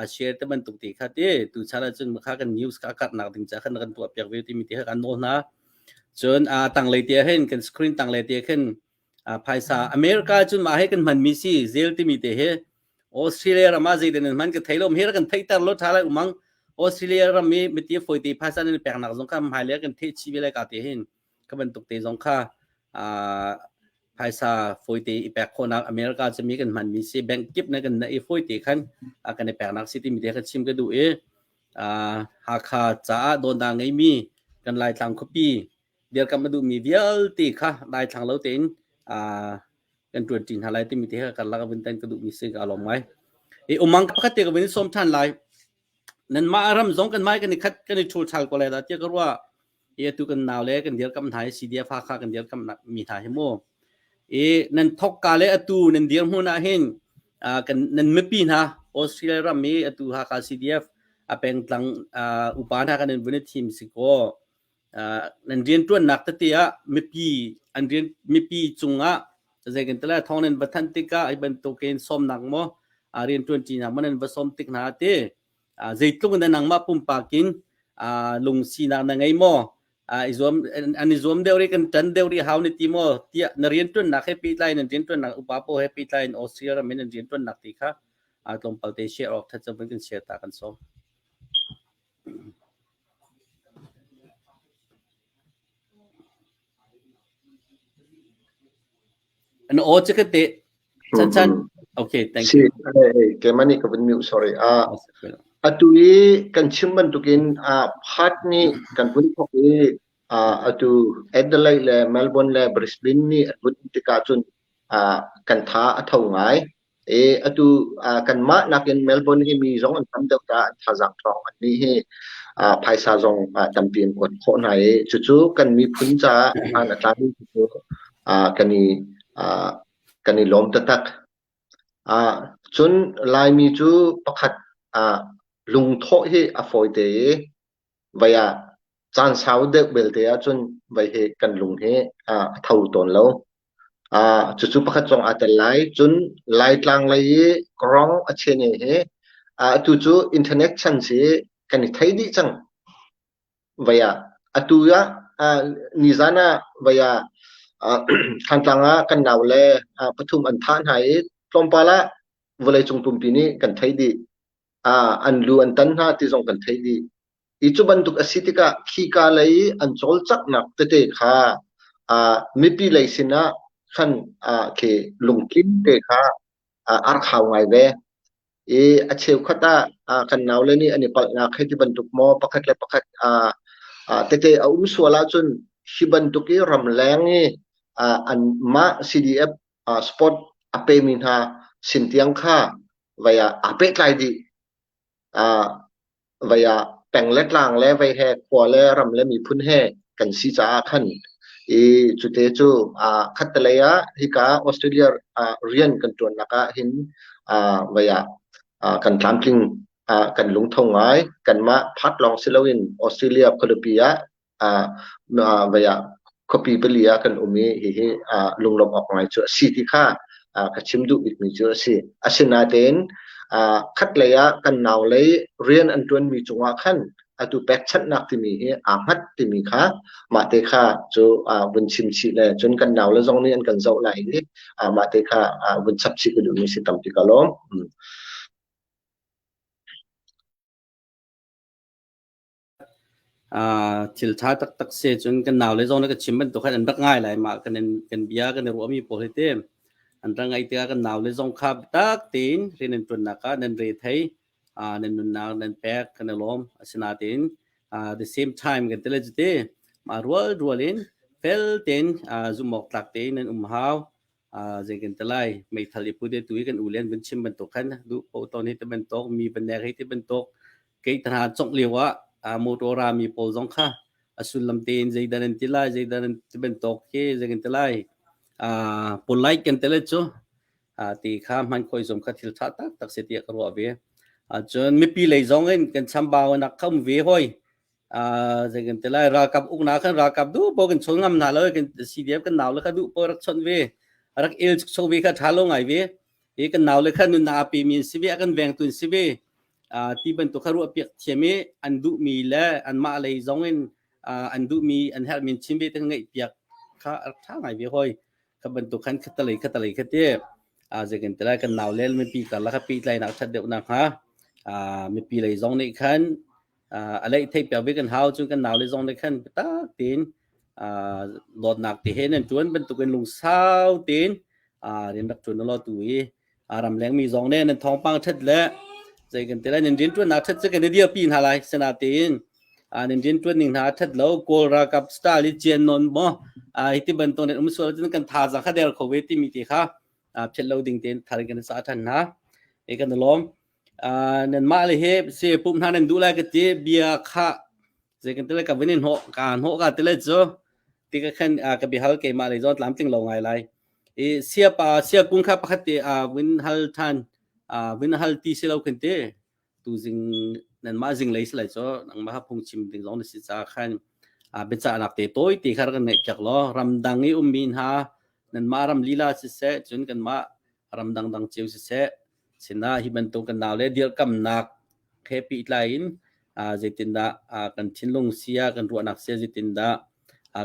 a share te bantuk te kha ti tu chan ahcun kha kan news ka karhnak ding ca khan kan tuah piak ve timi te kha kan nawl hna cun a tanglei te hin kan screen tanglei te khin phaisa America cun mah he kan hmanmi si zel timi te hi Australia ram ah zeitin nan hman ka thei lo her kan theiter lo tha lai umang Australia ram i miti foite phaisa nan peknak zong kha hmai le kan the chi ve lai ka te hin ka bantuk te zong kha phaisa foite i pek khonak America cumi kan hmanmi si bank kip na kan na i foite khan kan i peknak si timi te kha chim ka du i Hakha caah donda ngeimi kan Laitlang khuapi bialkam a duhmi vialte kha daithlang lo tein kan tuan ṭi hna lai timi te kha kan lak vun tan ka duhmi si ka lawm ngai i umang pakhat te ka vin som ṭhan lai nanmah ram zong kan mai kan i khat kan i chul chal ko lai da tia ka rua i atu kan nau le kan dir kam hna i CDF ha kha kan dir kam mi hna hi mu i nan thok ka le atu nan dir hmun ah hin kan nan mipi hna Australia ram i atu ha ka CDF a pengtlang upa hna kan in vun thim si ko nan rianṭuannak tete ah mipi an rian mipi cungah zei kan ti lai thawngnan va thanh tikah hi bantukin sawmnak maw rianṭuanṭinak maw nan va sawm tik hna te zeitluk in nangmah pumpak in lungsinak na ngei maw i zuam an i zuam deuh ri kan ṭan deuh ri hau ni ti maw tiah na rianṭuannak he pehtlai nan rianṭuannak upa pawl he pehtlai in Austria ram in an rianṭuannak ti kha tlawmpal te share awk that cang kan share ta kan sawm. An aw cu ka teh. Chan chan. Okay, thank you. Keman nih ka vun mute sorry. Ah, atu i kan chim bantukin ah Pat nih kan vun thok i ah atu Adelaide le Melbourne le Brisbane nih an vun tikah cun ah kan tha a tho ngai. Atu kanmah nakin Melbourne hi mi zong an tam deuh caah thazaang ṭhawng annih hi phaisa zong tampi an kuat khawh hna i cucu kan miphun caah hmaan a tlami cu kan i lawm taktak. Cun Laimi cu pakhat lungthawh hi a fawite i Vai ah caan sau deuh belte ahcun vai hi kan lung hi a tho tawn lo. Aa cucu pakhat zong aa tel lai. Cun Laitlang lei i Krong a chene hi atu cu internet chan si kan i thei dih cang. Vai ah atu ah nizan ah vai ah Thantlang ah kan nau le pathum an thah hna i tlawmpal ah vawleicung pumpi nih kan thei dih. an lu an tan hna ti zong kan theih dih. I cu bantuk a si tikah khika lei i an cawlcanghnak tete kha uh, mipi lei sinah khan uh, khi lungtlim te kha uh, ar khau ngai ve. I a cheukhat ah uh, kan nau le nih an i palhnak hei ti bantuk maw pakhat le pakhat uh, uh, tete a um sual ahcun hi bantuk i ramleng i uh, an mah CDF sport a pemi hna sin tiang kha vei ah aa pehtlai dih. Uh, vei ah peng le tlang le vei he khua le ram le miphun he kan si caah khan i cute cu uh, khattelei ah hika Australia uh, rian kan tuannak ah hin uh, vei ah uh, kan tlamtling uh, kan lungtho ngai kanmah pat lawng si loin Australia khualipi ah khuapi pali ah kan um i hihi lunglawmh awk ngai cu a si ti kha ka chim duh bikmi cu a si. Asinain khatlei ah kan nau lei rian an ṭuanmi cungah khan atu pekchanhnak timi hi aa hngat timi kha mahte kha cu vun chim chih le cun kan nau le zong nih an kan zoh lai i mahte kha vun chap chih ka duhmi si tampi ka lawm. Ah thil tha taktak si ahcun kan nau le zong nih ka chim bantuk khan an rak ngai lai. Mah kan in kan bia kan i ruahmi pawl hi ti an rak ngaih tikah kan nau le zong kha biatak tein rian an ṭuannak ah nan re thei, ah nan nunnak nan pek kan i lawm. Asinain ah the same time kan ti le cuti mah rual rual in fel tein ah zumhawktlak tein nan um hau. zei kan ti lai meithal i pute tu hi kan u le an vun chim bantuk khan duh po ton hi ti bantuk mi banek hi ti bantuk kei tana congh lio ah motor ra mi pawl zong kha a sullam tein zeidan an ti lai zeidan an ti bantuk hi zei kan ti lai polite kan ti le cu ti kha hman khoi zom kha thil tha tak tak se ti ka ruah ve cun mipi lei zong in kan chambau nak kham ve hoi Ah zei kan te lai ralkap ukna kan ralkap du bo kan chol ngam na lo kan CDF kan naw le ka du po rak chon ve rak il chok vi ka tha lo ngai ve e kan naw le khan nun na pe min si ve kan veng tun si ve ah ti ban to kha ru piak thiam e an du mi le an ma lei zong in an du mi an her min chim ve tang ngai piak kha rak tha ngai ve hoi ka ban to khan khatalei khatalei khate a zei kan te lai kan naw le mi pi ta la ka pi tlai na that deuh na ha a mi pi lei zong nei khan a leih thei piak ve kan hau cu kan nau le zong nih khan biatak tein dawtnak te he nan tuan bantuk in lungsau tein rian rak tuan lo tu i ram leng mi zong nih nan thawngpang that le zei kan ti lai nan rian tuan nak that cu kan i dir pi hna lai sena tein nan rian tuan ning hna that lo kawl ralkap style i cian non mo hi ti ban to net um sual tin kan tha za kha der kho ve ti mi te kha phet lo ding tein thar kan sa than hna e kan lom nanmah le hi si pumh hna nan duh lai ka ti bia kha zei kan tile ka vin in hnawh ka hnawh ka tile cu ti ka khan ka bihal keimah le zon tlam tling lo ngai lai i sia pa sia kun kha pakhat te a vin hal than a vin hal ti si lo kan ti tu zing nanmah zing lei si lai cho nang ma ha phung chim ding zong na si cha khan a beca nak te toy ti khar kan ngai piak lo ramdang i um min ha nanmah ram lila si se cun kanmah ram dangdang cio siseh sinah hi bantuk kan nau le dirkamnak he pehtlai in zeitindah kan thinlung sia kan ruahnak sia zeitindah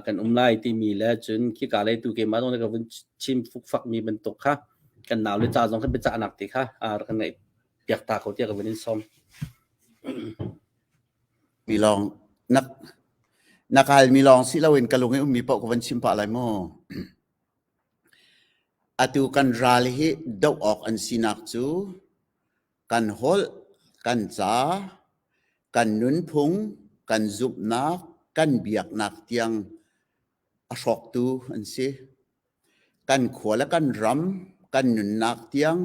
kan um lai timi le cun khika le tu keimah zong ka vun chim fukfak mi bantuk kha kan nau le ca zong kan biacahnak ti kha kan ngaih piak ta ko tiah ka vun in som mi lawng nak nakal mi lawng si loin ka lung i ummi poh ka van chim pah lai maw Atu kan ral hi doh awk an sinak cu kan holh, kan ca, kan nunphung, kan zumhnak, kan biaknak tiang a hrawktu an si. Kan khua le kan ram, kan nunnak tiang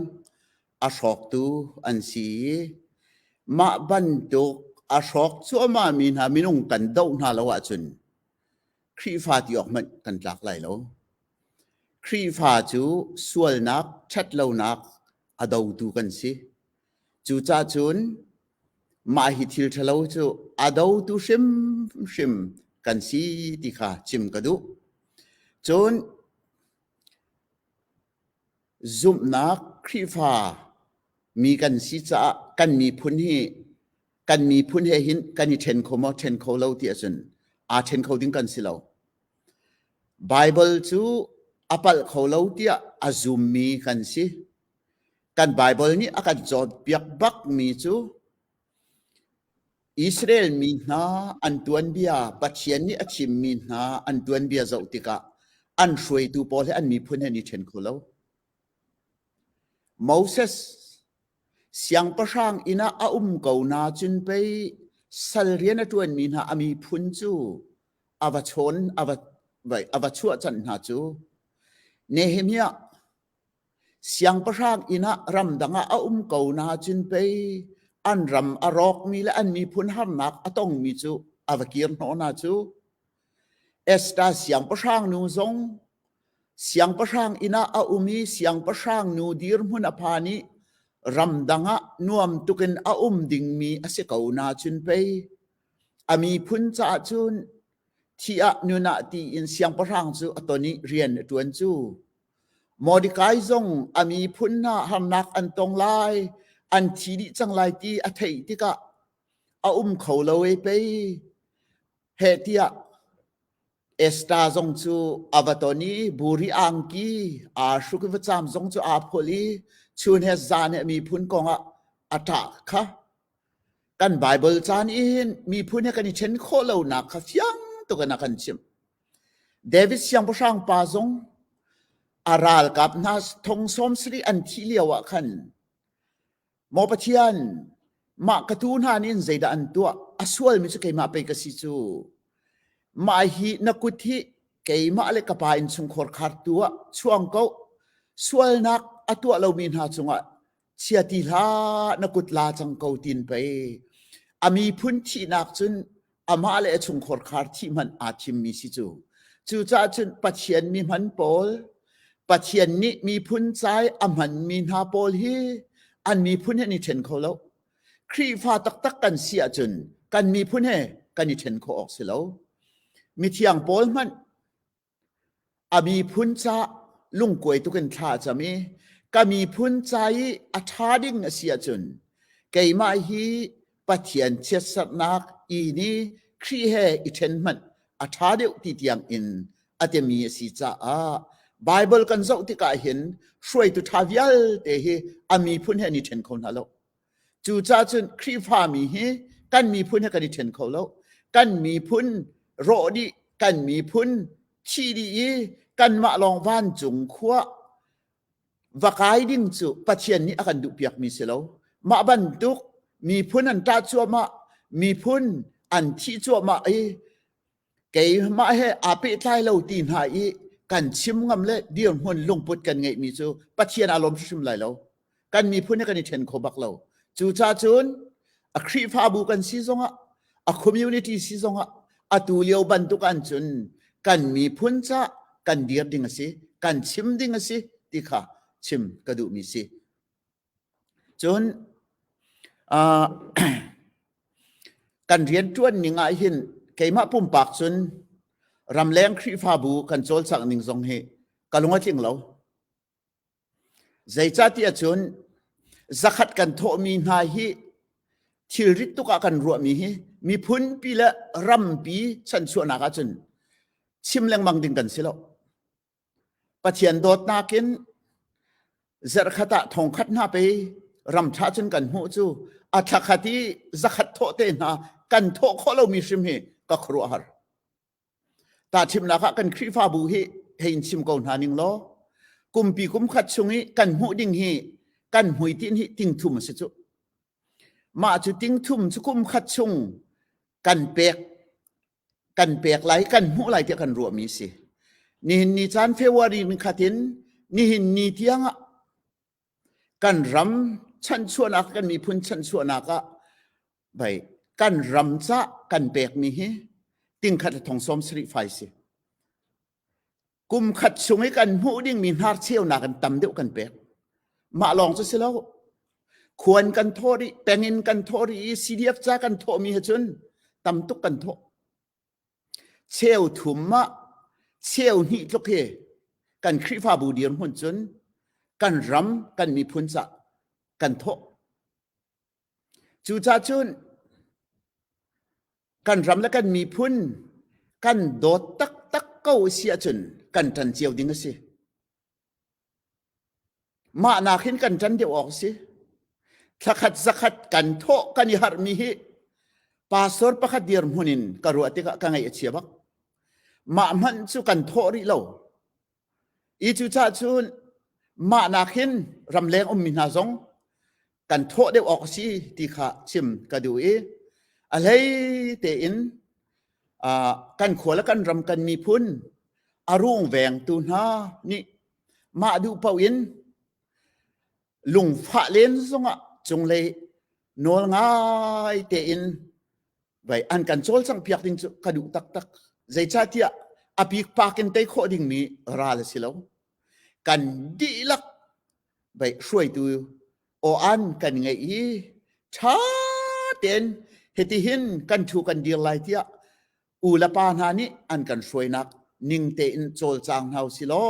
a hrawktu an si i mah bantuk a hrawk cuahmahmi hna minung kan doh hna lo ahcun Khrihfa ti awk hmanh kan tlak lai lo. Khrihfa cu sualnak ṭhatlonak a dotu kan si. Cucahcun mah hi thil ṭhalo cu a dotu hrimhrim kan si ti kha chim ka duh. Cun zumhnak Khrihfa mi kan si caah kan miphun hi kan miphun he hin kan i ṭhen kho maw ṭhen kho lo ti ahcun aa ṭhen kho ding kan si lo. Baibal cu a palh kho lo tiah a zummi kan si. Kan Baibal nih a kan cawnpiak bakmi cu Israel mi hna an tuanbia Pathian nih a thimmi hna an tuanbia zoh tikah an hruaitu pawl he an miphun he ni ṭhen kho lo. Moses Siangpahrang inn ah a um ko nacun pei sal rian a ṭuanmi hna a miphun cu a va chawn a va a va chuahchan hna cu. Nehemiah siangpahrang inn ah ramdang ah a um ko nacun pei an ram a rawkmi le an miphun harnak a tongmi cu a va kir hnawh hna cu. Esta siangpahrang nu zong siangpahrang inn ah a um i siangpahrang nu dirhmun a phan i ramdang ah nuam tuk in a um dingmi a si ko nacun pei a miphun caah cun thi ah nun ah ti in siangpahrang cu a ton i rian a ṭuan cu. Mordekai zong a miphun hna harnak an tong lai, an thi dih cang lai ti a theih tikah a um kho lo e pei. heh tiah Esta zong cu a va ton i buri angki aa hruk i vacam zong cu aa phul i chun he zan he miphun kongah a ṭah kha kan Baibal caan in miphun he kan i ṭhen khawh lonak kha fiang tuk in a kan chimh. David siangpahrang pa zong a ralkap hna thong sawm sarih an thih lio ah khan Maw Pathian, mah ka tu hna nih zeidah an tuah? A sualmi cu keimah pei ka si cu. Mah hi na kut hi keimah le ka pa in chungkhor khar tuah chuang ko. Sualnak a tuah lomi hna cungah chia ti hlah na kut la cang ko tin pei. A mi phun thihnak cun amah le a chungkhar khar thih hmanh aa thimmi si cu cucaah cun pathian mi hman pawl pathian nih miphun cai a hmanmi hna pawl hi an miphun he ni ṭhen kho lo Khrihfa taktak kan si ahcun kan miphun he kan i ṭhen khawh awk si lo mithiang pawl hmanh A miphun ca lungkuai tuk in thla a cam i ka miphun ca i a ṭha ding a si ahcun keimah hi Pathian chiatsarhnak i ni Khrih he i ṭhen hmanh a ṭha deuh ti tiangin a timi a si caah Baibal kan zoh tikah hin hruaitu ṭha vialte hi a miphun he an i ṭhen kho hna lo. Cucaah cun Khrihfami hi kan miphun he kan i ṭhen kho lo. Kan miphun rawh dih, kan miphun thi dih i kanmah lawng vancung khua va kai ding cu Pathian nih a kan duhpiakmi si lo. Mah bantuk miphun an ṭah cuahmah, miphun an thih cuahmah i Keimah he aa pehtlai lo ti hna i kan chim ngam le dirhmun lungput kan ngeihmi cu Pathian aa lawm hrimhrim lai lo. Kan miphun he kan i ṭhen kho bak lo. Cucacun a Khrihfabu kan si zongah, a community si zongah, atu lio bantuk ahcun kan miphun ca kan dir ding a si, kan chim ding a si ti kha chim ka duhmi si. Cun ah kan rianṭuan ning ahhin keimah pumpak cun ramleng Khrihfabu kan cawlcangh ning zong hi ka lung a tling lo. Zeicahtiah cun zakhat kan thawhmi hna hi thilrit tuk ah kan ruahmi hi miphunpi le rampi chanchuahnak ah cun chim lengmang ding kan si lo. Pathian dawtnak in zarhkhat ah thongkhat hna pe ramṭha cun kan hmuh cu a thlakhat i zakhat thawh te hna kan thawh khawh lomi hrim hi ka khuaruahhar. Ta chimnak ah kan Khrihfabu hi hei in chim ko hna ning law kumpi kumkhat chung i kan hmuh ding hi kan hmui tin hi tingthum a si cu. Mah cu tingthum cu kumkhat chung kan pek kan pek lai kan hmuh lai tiah kan ruahmi si nihin ni caan February ni khatin nihin ni tiang ah kan ram chanchuahnak kan miphun chanchuahnak ah bai kan ram ca kan pekmi hi tingkhat le thong som sarih fai si Kum khat chung i kan hmuh dingmi hnarcheunak in tam deuh kan pek. Mah lawng cu si lo. Khuan kan thaw rih, pengin kan thaw rih i CDF ca kan thawhmi he cun tam tuk kan thawh. Cheu thum mah cheu hnih tluk hi kan Khrihfabu dirhmun cun kan ram, kan miphun ca kan thawh. Cucah cun kan ram le kan miphun kan dawt taktak ko a si ahcun kan ṭan cio ding a si. Mah nakin kan ṭan deuh awk a si. Thlakhat zakhat kan thawh kan i harhmi hi pastor pakhat dirhmun in ka ruah tikah ka ngaih a chia bak. Mah hmanh cu kan thawh rih lo. I cucah cun mah nakin ramleng ummi hna zong kan thawh deuh awk a si ti kha chim ka duh i a hlei tein kan khua le kan ram kan miphun a rung vengtu hna nih mah duh paoh in lungfah len zongah cunglei nawl ngai tein vai an kan chol sang piak ding cu ka duh taktak zeicahtiah apik pakin tei khawh dingmi ral a si lo kan dihlak vai hruaitu o an kan ngei i tha ten heti hin kan thu kan dir lai tiah u le pa hna nih an kan hruainak ning tein col cang hau si lo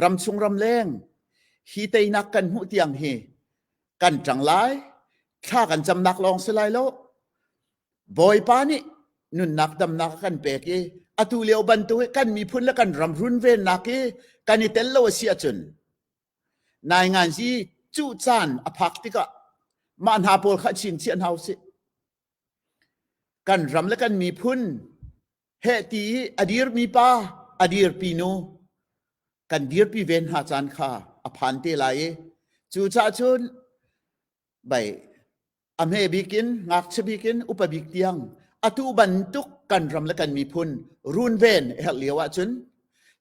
ram chung ram leng hi teinak kan hmuh tiang hi kan ṭang lai thla kan camnak lawng si lai lo bawipa nih nunnak damnak a kan pek i atu lio bantuk i kan miphun le kan ram run vennak i kan i tel lo a si ahcun nai ngan si cu caan a phak tikah mah hna pawl kha chin chiah hna u sih kan ram le kan miphun Hehti i a dirmi pa, a dirpi nu, kan dirpi ven hna caan kha a phan te lai i cu ca cun bai a hme bikin ngakchia bikin upa bik tiang atu bantuk kan ram le kan miphun runven a herh lio ahcun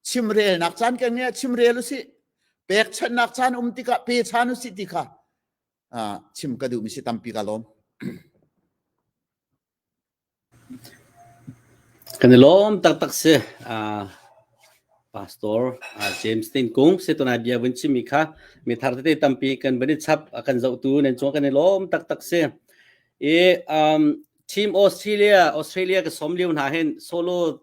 chimrelnak caan kan ngeih chimrel u si pekchannak caan um tikah pe chan u si ti kha chim ka duhmi si tampi ka lawm. Kan i lawm taktak si. Aa Pastor James Tiin Kung si tunai bia vun chimmi kha mi thar tete tampi kan van i chap. A kan zohtu nan cungah kan i lawm taktak si. I um, Team Australia, Australia ka sawm lio hna hin solo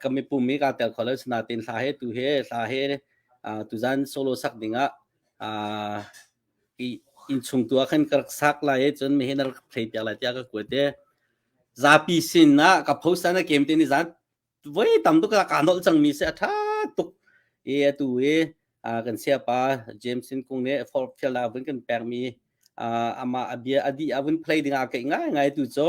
ka mipum i kaa tel kho lo sinain hla he tu he hla he tuzan solo sak dingah innchung tu ah khan ka rak sak lai i cun mi he na rak thei piak lai tiah ka kuat i zapi sin ah ka post na kem te ni zan voi tam tuk ka nol cangmi se a tha tuk i atu i kan siapa James Sin Kung nih forfield ah vun kan pekmi ama abia adi avun play dingah kai ngai ngai tu cho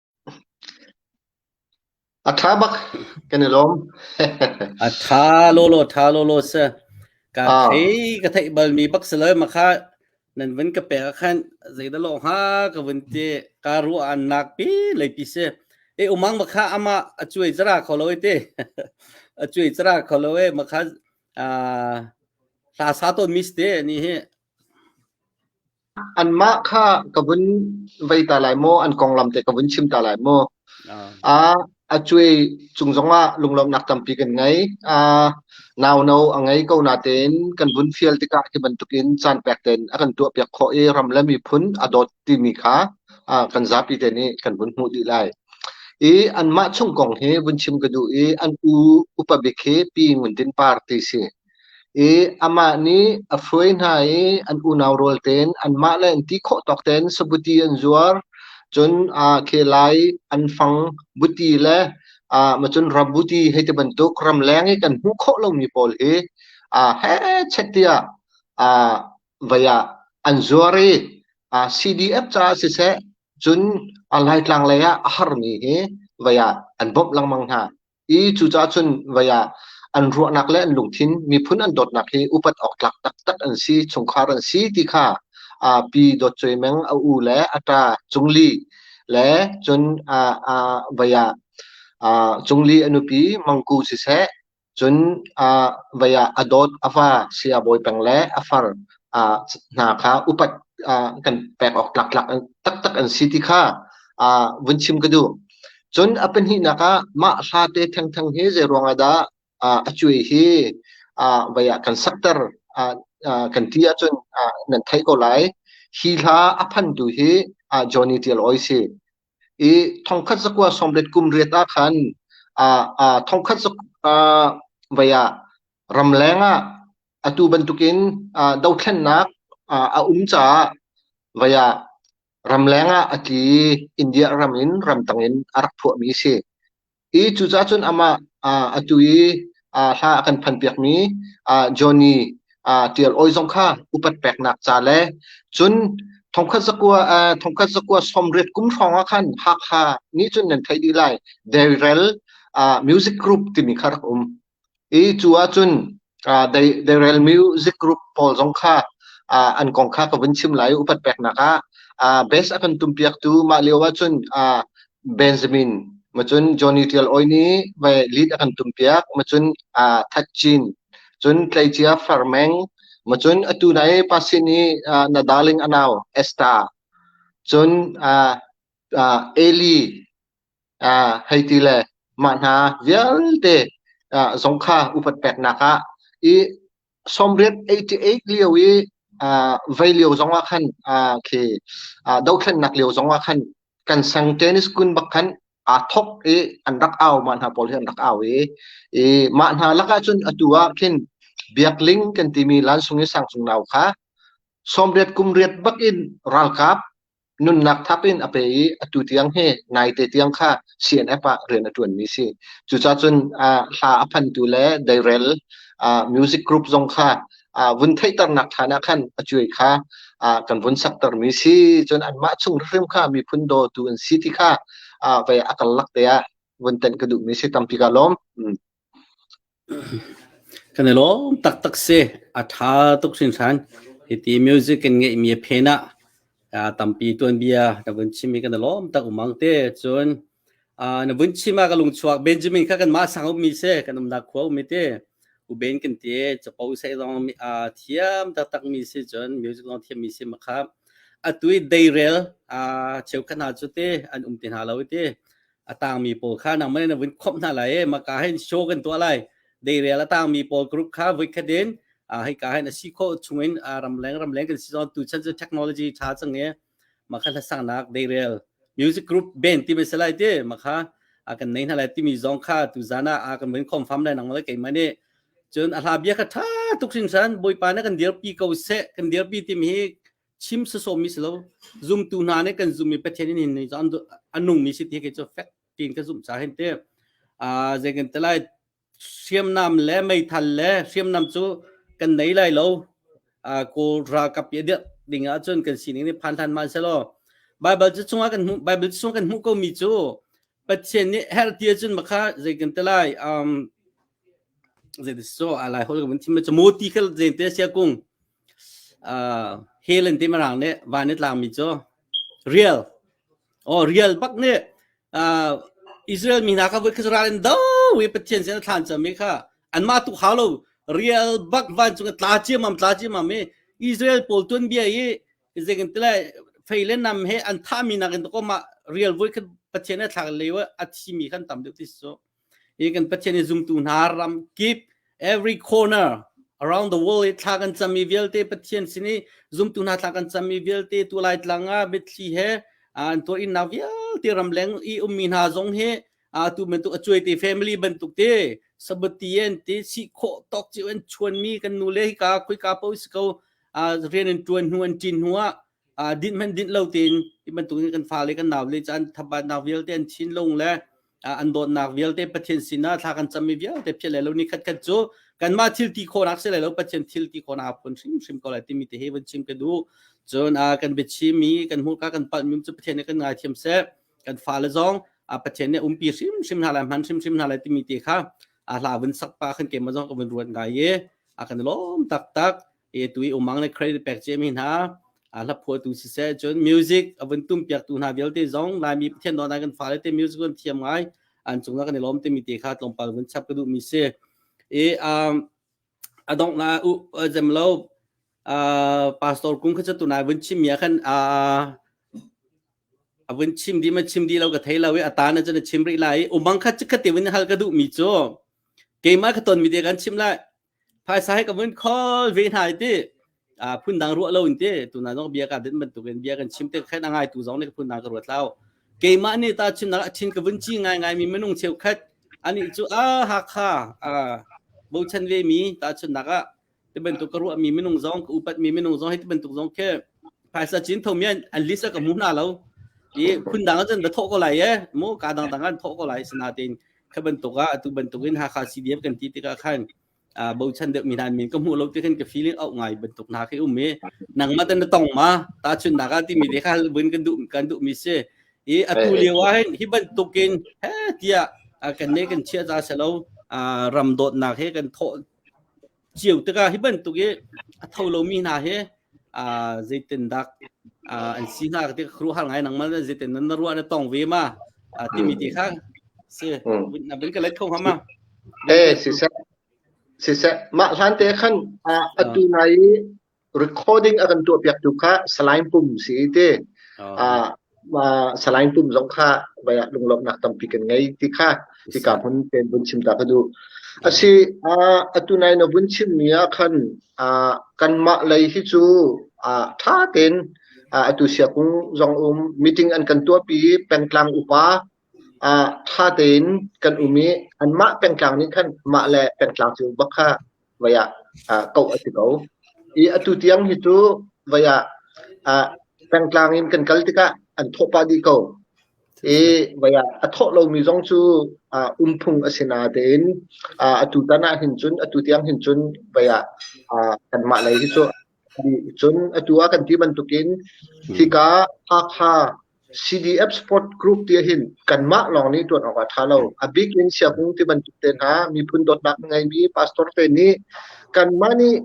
A ṭha bak kan i lawm. A ṭha lawlaw, ṭha lawlaw si. Ka Ah, thei ka theih balmi bak si lo makha nan vun ka pek ahkhan zeidah law hnga ka vun ti. Ka ruahnak pi leipi si. E umang makha amah a cuai zara kho lo e ti. A cuai zara kho lo e makha ah hla sa tawn mis te ni hi. Anmah kha ka vun vei ta lai maw? An konglam te ka vun chim ta lai maw? Ah, a cuai cung zongah lunglawmhnak tampi kan ngei. Ah, nau no a ngei ko natein kan vun fial tikah hi bantukin caan pek tein a kan tuahpiak khawh i ram le miphun a dawt timi kha ah, kan zapi te nih kan vun hmuh dih lai. I anmah chung kong hi vun chim ka duh i an u upa bik hi Pi Ngun Din Par ti si. i amah nih a hruai hna i an unau rawl tein anmah le an ti khawh tawk tein sabuti an zuar cun aa khe lai an fang buti le aa macun rabuti hei ti bantuk ramleng i kan hmuh khawh lomi pawl hi aa hechet tiah aa vai ah an zuar i aa CDF caah siseh cun aa Laitlang lei ah a harmi hi vai ah an bawmh lengmang hna. I cucaah cun vei ah an ruahnak le an lungthin miphun an dawtnak hi upat awk tlak taktak an si, chungkhar an si ti kha uh, Pi Dawt Cuai Meng a u le a ta Cung Li le cun uh, uh, vei ah uh, Cung Li a nupi Mangku siseh cun uh, vei ah a dawt a fa si a bawi peng le a far uh, hna kha upat uh, kan pek awk tlak tlak taktak an si ti kha uh, vun chim ka duh. Cun a pahnihnak ah mah hlate thengtheng hi zeiruang ah dah a cuai hi vei ah kan sakter kan ti ahcun nan theih ko lai. Hi hla a phantu hi Johnny Tial Ooi si. I thongkhat zakua sawmret kum riat ah khan thongkhat zakua vei ah ramleng ah atu bantukin dothlennak a um caah vei ah Ramleng ah a tli i India ram in ramdang in a rak phuahmi a si. I cucaah cun amah aa a tu i aa hla a kan phanpiakmi aa Johnny aa Tial Awi zong kha upat peknak ca le cun thongkhat zakua aa thongkhat zakua sawmriat kum hrawng ah khan Hakha nih cun nan theih dih lai Dairel aa Music Group timi kha rak um. I cu ahcun deirel music group pawl zong kha an kong kha ka vun chim lai i upat peknak ah base a kan tumpiaktu mah lio ahcun Benjamin macun Johnny Ṭial Awi nih vai lead a kan tumpiak macun That Cin cun tleicia Farmeng macun atu na i pasin i na darling a nau Esther cun Eli Hei ti le mah hna vialte zong kha upat peknak ah i sawmriat eighty eight lio i vei lio zong ah khan khi dohthlennak lio zong ah khan kan sang tennis kun bak khan aa thawk i an rak au mah hna pawl hi an rak au i mah hna lakah cun atu ah khin biakling kan timi lansung i sangcung nau kha sawmriat kumriat bak in ralkap nunnak thap in a pe i atu tiang hi naite tiang kha CNF ah rian a ṭuanmi si. Cucacun ah hla a phantu le deirel ah music group zong kha ah vun theihternak ṭhan ah khan a cuai kha ah kan vun saktermi si. Cun anmah chung hrim kha miphun dawtu an si ti kha ah vei a kal lak te ah vun tenh ka duhmi si tampi ka lawm. Mm. Kan i lawm taktak si. A ṭha tuk hringhran. Hiti music kan ngeihmi a phen ah aa tampi tuanbia na vun chim hi kan i lawm tak umang te. Cun aa na vun chim ah ka lungchuak Benjamin kha kanmah sang ummi si, kan umnak khua ummi ti. Uben kan ti. Capo seh zong aa thiam taktakmi si cun music zong thiammi si ma kha. Atu i deirel aa cheukhat hna cu ti an um ti hna lo i ti. a tangmi pawl kha nangmah na vun khomh hna lai e maka hin show kan tuah lai deirel a tangmi pawl group kha vui khat in hei ka hin a si kho chungin ramleng ramleng kan si zon tu chan cu technology tha chang e makha la sangnak deirel music group ben ti me salai te makha a kan nei na lai timi zong kha tu zana a kan mun khom fam lai nang lai kai mani chun a hla bia kha tha tuk sin san boi pa na kan dir pi ko se kan dir pi tim hi chim sasawmmi si lo zumtu hna nih kan zummi Pathian in hin a nungmi si ti khi cu fek tiin ka zumh ca hin te zei kan te lai hriamnam le meithal le hriamnam cu kan nei lai lo kawl ralkap i dirh ding ahcun kan sining nih phan than man se law Bible cu chungah kan hmuh Bible chung kan hmuh ko mi cu Pathian nih her ti ahcun makha zei kan te lai um zei ti so alai hol kan thim cu moti khel zei te sia kung Hell in timi raang nih van i tlaangmi cu rial, aw rial bak nih Israel mi hna kha voikhat cu ral in do i Pathian sin an thlaan ciami kha anmah tu hau lo rial bak vancung i tla ciammam, tla ciammam i Israel pawl tuanbia i zeitintiah fei le nam he an thahmi nakin tukum ah rial voikhat Pathian he thlak lio ah a thimi khan tam deuh ti a si cu. i kan pathian i zumtu hna ram kip every corner around the world i thla kan cam i vialte pathian sin i zumtu hna thla kan cam i vialte tu lai tlang ah mitthli he an tuar innak vialte ram leng i ummi hna zong he tu bantuk a cuaite family bantuk te sabati en te si khawh tawk chi an chuan mi kan nu le hika khoika po si ko rian an tuan hnu an cin hnu ah din man din lo tin i bantuk in kan fa le kan naw le chan thabat naw vialte an chin lung le an dawtnak vialte Pathian sinah thla kan cammi vialte phiat lai lo ni khat khat cu kanmah thil ti khawnak si lai lo Pathian thil ti khawnak a phun hrimhrim ko lai timi te hi vun chim ka duh cun kan biachimi kan hmurka kan palmi cu Pathian nih kan ngai thiam seh kan fale zong Pathian nih umpi hrimhrim hna lai hman hrimhrim hna lai timi te kha a hla vun sak pa khan ke ma zong ka vun ruat ngai ye a kan lawm tak tak etui umang le credit pek ce mi hna hla phuah tu si se cun music avun tum piak tu hna vialte zong laimi pathian don kan fa le te music kan thiam ngai an chung na kan lom te mi te kha tlong pal vun chap ka du mi se e um adong na u jem lo pastor kum kha tu na vun chim ya khan avun chim di ma chim di lo ka thei lo e atana chana chim ri lai umang kha chikhate vun hal ka du mi cho keima khaton mi te kan chim lai phaisa he ka vun khol ve hna i ti a phundang ruah lo in ti tuna zong bia ka din bantuk in bia kan chim te khen angai tu zong ne ka phundang ka ruat lao keimah ni ta chimnak a thin ka vun chi ngai ngai mi minung cheu khat ani cu a hakha a bochan ve mi ta chunnak a tibantuk ka ruah mi minung zong ka upat mi minung zong hi tibantuk zong khe phaisa chin thomian an list ka mu na lo i phundang chan ba tho ko lai ye mu ka dang dang an tho ko lai sina tin Khi bantuk ah atu bantuk in Hakha CDF kan ti tikah khan uh, bochan deuh mi nan min ka hmuh lo ti khan ka feeling au ngai bantuk hna khi um i nangma tan na tong ma ta chun na ka ti mi de kha buin kan duh kan duh mi si i atu lio ah hin hi bantuk in he tia kan ne kan chia ta selo ram dot na he kan tho cio tikah hi bantuk i a tho lomi hna hi uh, zeitin dak uh, an si hna ti khru har ngai nang mal zeitin nan ruah na tong ve ma uh, timi ti kha si na bin ka let kho hama eh si se si se mah hlan te khan atu nai recording a kan tuahpiaktu kha Salai Pum si i ti. Ah, Salai Pum zong kha vai ah lunglawmhnak tampi kan ngei ti kha hika hmun ten vun chim ta ka duh. Asi atu nai na vun chim mi ah khan kanmah lei hi cu tha ten atu siakung zong um meeting an kan tuah pi pengtlang upa Ṭha tein kan um i anmah pengtlang nih khan mah le pengtlang cio bak kha voi ah koh a si ko. I atu tiang hi cu voi ah pengtlang in kan kal tikah an thawh pah dih ko. I voi ah a thawh lomi zong cu um phung a si natein atu tan ahhin cun atu tiang hin cun voi ah kanmah lei hi cu Cun atu ah kan ti bantukin hika Hakha CDF Sport Group ti ahhin kanmah lawng nih ṭuan awk ah ṭha lo, a bik in siakung ti bantuk te hna miphun dawtnak na ngeimi pastor te nih kanmah nih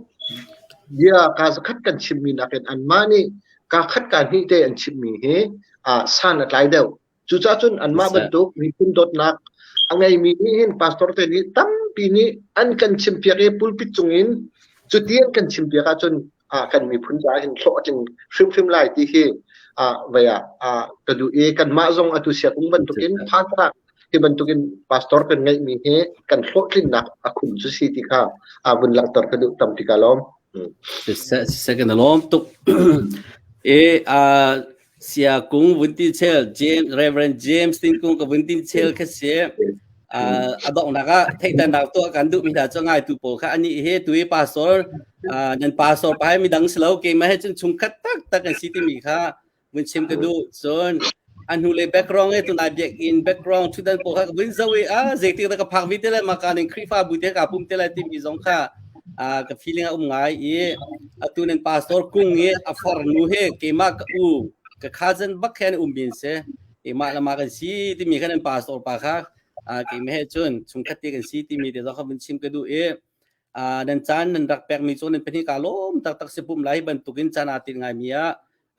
bia kaa zakhat kan chimmi nakin anmah nih kaa khat kaa hnih te an chimmi hi san a tlai deuh. Cucah cun anmah bantuk miphun dawtnak a ngeimi nih hin pastor te nih tampi nih an kan chimpiak i pulpit cungin cuti an kan chimpiak ahcun kan miphun caah hin hlawh a tling hrimhrim lai ti hi vei ah ka duh i kanmah zong atu siakung bantukin phaantlaak hi bantukin pastor kan ngeihmi hi kan hlawhtlinnak a khum cu si ti kha vun langhter ka duh tam tika lawm. Second alawm tuk i Siakung vun ti chel James Reverend James Tingkung ka vun ti chel kha si a donghnak ah theihtannak tuah kan duh mi hna cu ngai tu pawl kha ani he tui pastor nan pastor pai mi dang silo keimah he cun chung khat tak tak an si ti mi kha vun chim ka duh cun an hnu le background e tunai biak in background thu dan pawl kha vun zo e a zeitik da ka phak vi te le ma kan in khrifa bu te ka pum te le ti mi zong kha ka feeling a um ngai i atu nan pastor kung i a far nu he keimah ka u ka cousin bak khan um bin se keimah lama kan si timi kan an pastor pa kha keimah he cun chung khati kan si timi te zaka vun chim ka du i nan caan nan rak pek mi cun nan pahnih ka lom tak tak se pum lai bantukin caan atin ngai mi a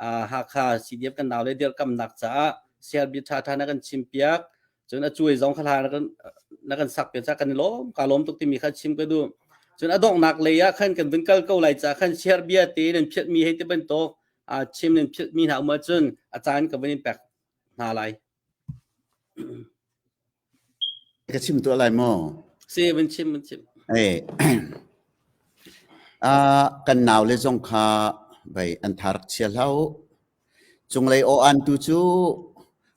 Hakha CDF kan nau le dirkamnak caah Selby Thatha na kan chim piak cun a cuai zong kha hla na kan na kan sak pe ca kan i lawm ka lawm tuk timi kha chim ka duh cun adonghnak lei ah khan kan vun kal ko lai ca khan share bia te nan phiat mi hei ti bantuk a chim nan phiat mi hna uma cun a caan ka van in pek hna lai ka chim tu lai mo si van chim van chim eh a kan nau le zong kha bei an tharak chia hlau Cunglei aw-antu cu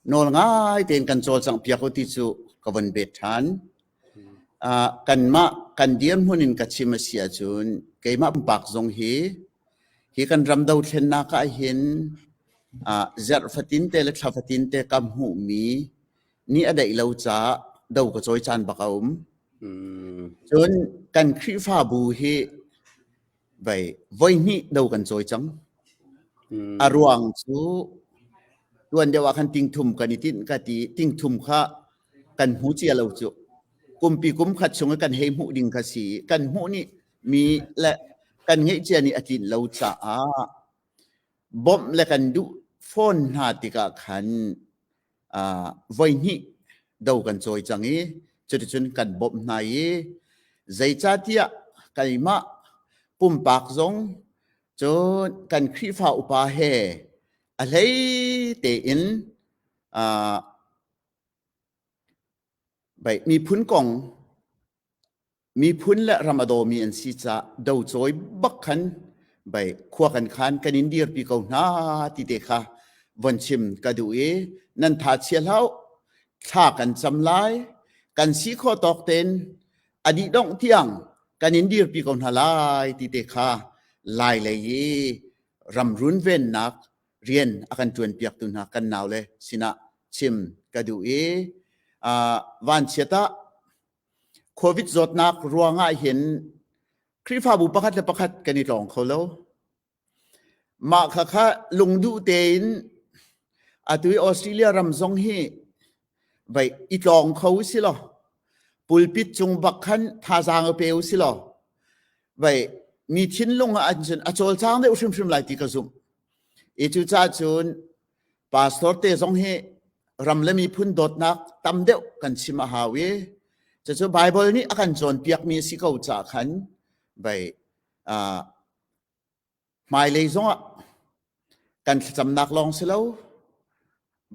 nawl ngai tein kan cawlcanghpiak u ti cu ka von bet ṭhan. Uh, kanmah kan dirhmun in ka chim a si ahcun keimah pumpak zong hi hi kan ram dothlennak ahhin uh, zarh fatin te le thla fatin te ka hmuhmi ni a daih lo ca do ka cawi caan bak a um. Mm. Cun kan Khrihfabu hi Bei voihnih do kan cawi cang. Mm. A ruang cu tuan deuh ah khan tingthum kan i tinh ka ti tingthum kha kan hmu cia lo cu kumpi kum khat chung i kan hei hmuh ding kha si kan hmuh nih mi le kan ngeih cia nih a tlin lo caah bawmh le kan duh phone hna tikah khan voihnih do kan cawi cang i cuticun kan bawmh hna i zeicatiah keimah pumpak zong cun kan Khrihfa upa he a hlei tein miphun kong miphun le ram a dawmi an si caah docawi bak khan bei khua kan khan kan in dirpi ko hna ti te kha von chim ka duh i nan tha chia hlau thla kan cam lai kan si kho tawk ten a dih dongh tiang kan in dirpi ko hna lai ti te kha lai lei i ram runvennak rian a kan tuan piak tu hna kan nau le sinah chim ka duh i vanchiat ah Covid zawtnak ruangah hin Khrihfabu pakhat le pakhat kan i tlawng kho lo. Mah kha kha lungduh tein atu i Australia ram zong hi vei i tlawng kho u si law pulpit cung bak khan thazaang a pe u si law vei mi thinlung ah an cun a cawlcang deuh hrimhrim lai ti ka zumh. I cucacun pastor te zong hi ram le miphun dawtnak tam deuh kan chim a hau i cucu Bible nih a kan cawnpiak mi si ko ca khan bei uh, hmailei zongah kan thlacamnak lawng si lo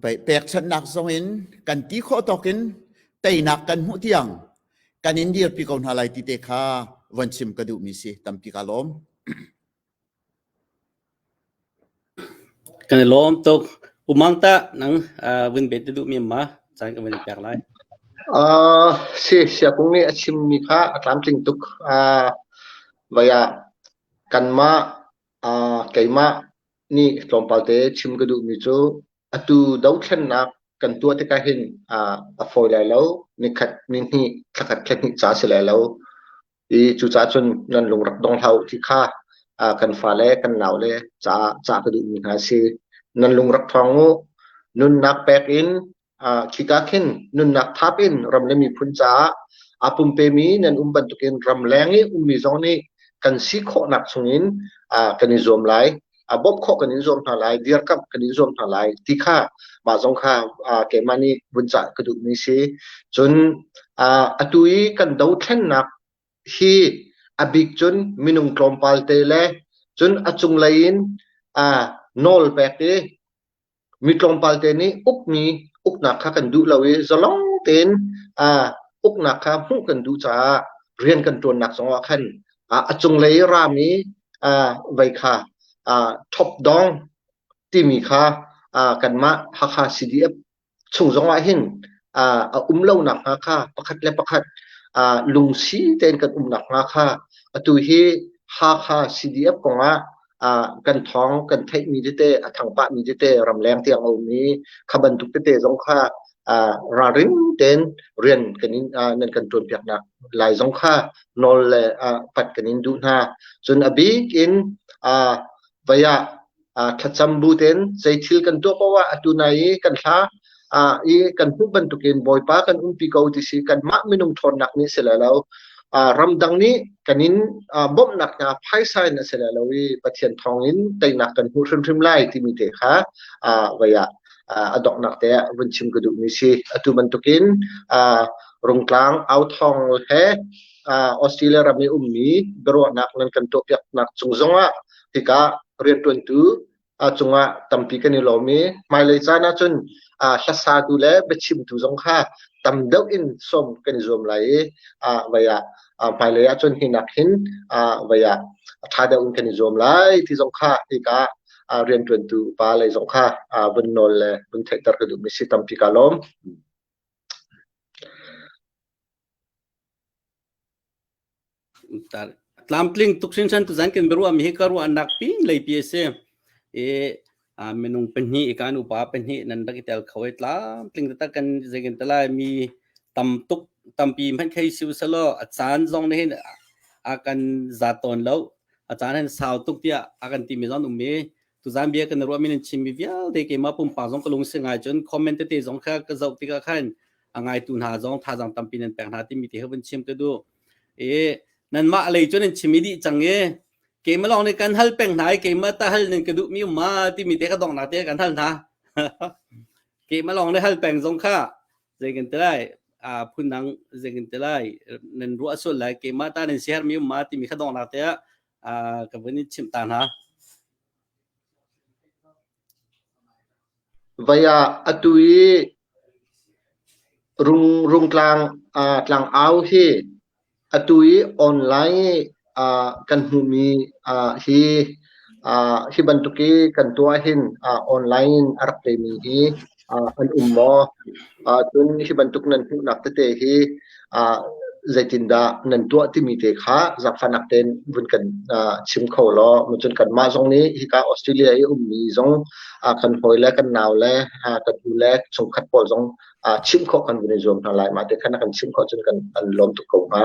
bei pekchannak zong in kan ti khawh tokin teinak kan hmuh tiang kan in dirpi ko hna lai ti te kha von chim ka duh mi si tampi ka lawm Kan i lawm tuk. U Mang tah nang aa vun bet na duhmi ma? Caan kan vun i pek lai. Uh, si, Siakung nih a chimmi kha a tlamtling tuk. Uh, vai ah kanmah, uh, keimah nih tlawmpal te chim ka duhmi cu atu dothlennak kan tuah tikah hin uh, a fawi lai lo. Nikhat, nihnih, thlakhat, thlahnih ca si lai lo. i cucaah cun nan lung rak dong hlah u ti kha kan fale kan nau le caah cah ka duhmi hna a si. Nan lung rak ṭhawng u. Nunnak pek in khika khin nunnak thap in ram le miphun caah a pumpemi nan um bantukin ram leng i ummi zong nih kan si khawhnak chungin kan i zuam lai. a bawmh khawh kan in zuam hna lai dirkamh kan in zuam hna lai ti kha mah zong kha keimah nih vun cah ka duhmi si cun atu i kan dothlennak hi a bik cun minung tlawmpal te le cun a cunglei in nawl pek i Mi tlawmpal te nih ukmi uknak kha kan duh lo i zalong tein uknak kha hmuh kan duh caah rian kan ṭuannak zongah khan a cunglei i raam i vei kha top dong timi kha kanmah Hakha CDF chung zongah hin a um lo nakhnga kha pakhat le pakhat lungsi tein kan um nakhnga kha atu hi Hakha CDF kongah ah kan thawng kan theihmi tete a thang pahmi tete ramleng tiang a um i kha bantuk tete zong kha ah ralring tein rian kan in ah nan kan tuanpiaknak lai zong kha nawl le ah pat kan in duh hna cun a bik in ah vaya ah thlacam bu ten zei thil kan tuah poah atu nai i kan hla uh, i kan hmuh bantukin bawipa kan umpi ko ti si kanmah minung ṭhawnnak nih si le lo uh, ramdang nih kan in uh, bawmhnak hna phaisa in a si le lo i pathian thawngin teinak kan hmuh hrimhrim lai timi te kha uh, vai ah uh, a donghnak te vun chim ka duh mi si atu bantukin uh, rungtlang au thong he uh, Australia ram i ummi biaruahnak nan kan tuahpiaknak cung zongah hika rianṭuantu a cungah tampi kan i lawm i hmailei caan ahcun hlasatu le biachimtu zong kha tam deuh in sawm kan i zuam lai i vei ah hmailei ahcun hi nak hin vei ah ṭha deuh in kan i zuam lai ti zong kha hika rianṭuantu pa lei zong kha vun nawl le vun theihter ka duhmi si tampi ka lawm. tlamtling tuk hrinhran tu zan kan biaruah mi hi ka ruahnak pin lei pi a si i minung pahnih i kan upa pahnih nan rak i tel kho i tlamtling taktak kan zeikan ta lai mi tam tuk tampi hmanh khei siu salo a caan zong ne hin a kan za tawn lo a caan hin sau tuk tiah a kan ti mi zong um i Tuzan bia kan ruah min in chim mi vialte keimah pumpak zong ka lungsi ngai cun comment tete zong kha ka zoh tikah khan a ngaitu hna zong thazang tampi nan pek hna timi te hun chim ka du e nanmah lei cun in chimi dih cang e keimah lawng nih kan hal peng hna i keimah ta hal nan ka duh mi ma timi te ka dong na te kan hal hna keimah lawng nih hal peng zong kha zeikin te lai a phun dang zeikin te lai nan ruah sul lai keimah ta nan siher mi ma timi ka dong na te ah ka vun i chimh ta hna. Vai ah atu i rung rung tlang uh, tlang au hi atu i online uh, kan hmumi uh, hi uh, hi bantuk i kan tua hin uh, online in a rak temi hi an um maw? Cun hi bantuk nan hmuhnak tete hi zeitindah nan tuah timi te kha zaangfahnak tein vun kan chim kho law cun kanmah zong nih hika Australia i ummi zong kan hawi le kan nau le kan nu le chungkhat pawl zong chimh khawh kan vun i zuam hna lai. Mah te khan kan chimh khawh cun kan lawm tuk ko hnga.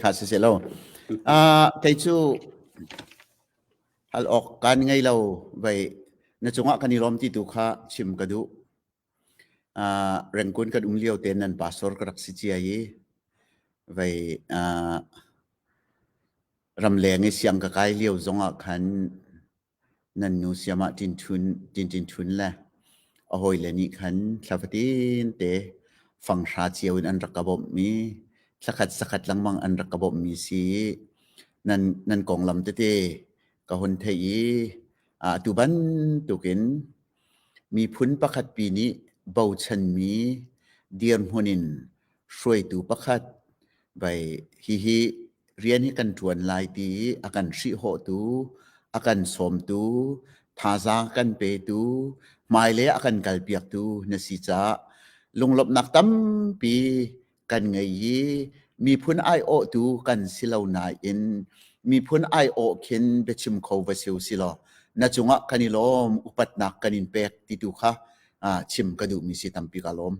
Kha siseh law kei cu hal awk kan ngei lo vei na cungah kan i lawm ti tu kha chim ka duh. Rengkun kan um lio ten nan pastor ka rak si cia i vei ramleng i siang ka kai lio zongah khan nan nu siamah Tinṭinṭhun le a hawile nih khan thla fatin te fanghra cio in an rak ka bawmhmi thlakhat sakhat lengmang an rak ka bawmhmi si i nan konglam tete ka hun theih i atu bantukin Miphun pakhatpi nih bochanmi dirhmun in hruaitu pakhat vai hihi rian hi kan ṭuan lai ti i a kan hrihhawhtu, a kan sawmtu, thazaang a kan petu, hmailei ah a kan kalpiaktu na si caah lunglawmhnak tampi kan ngei i miphun aiawhtu kan si lo nain miphun aiawh khin biachim kho va siu si law na cungah kan i lawm upatnak kan in pek ti tu kha ah, chim ka duhmi si tampi ka lawm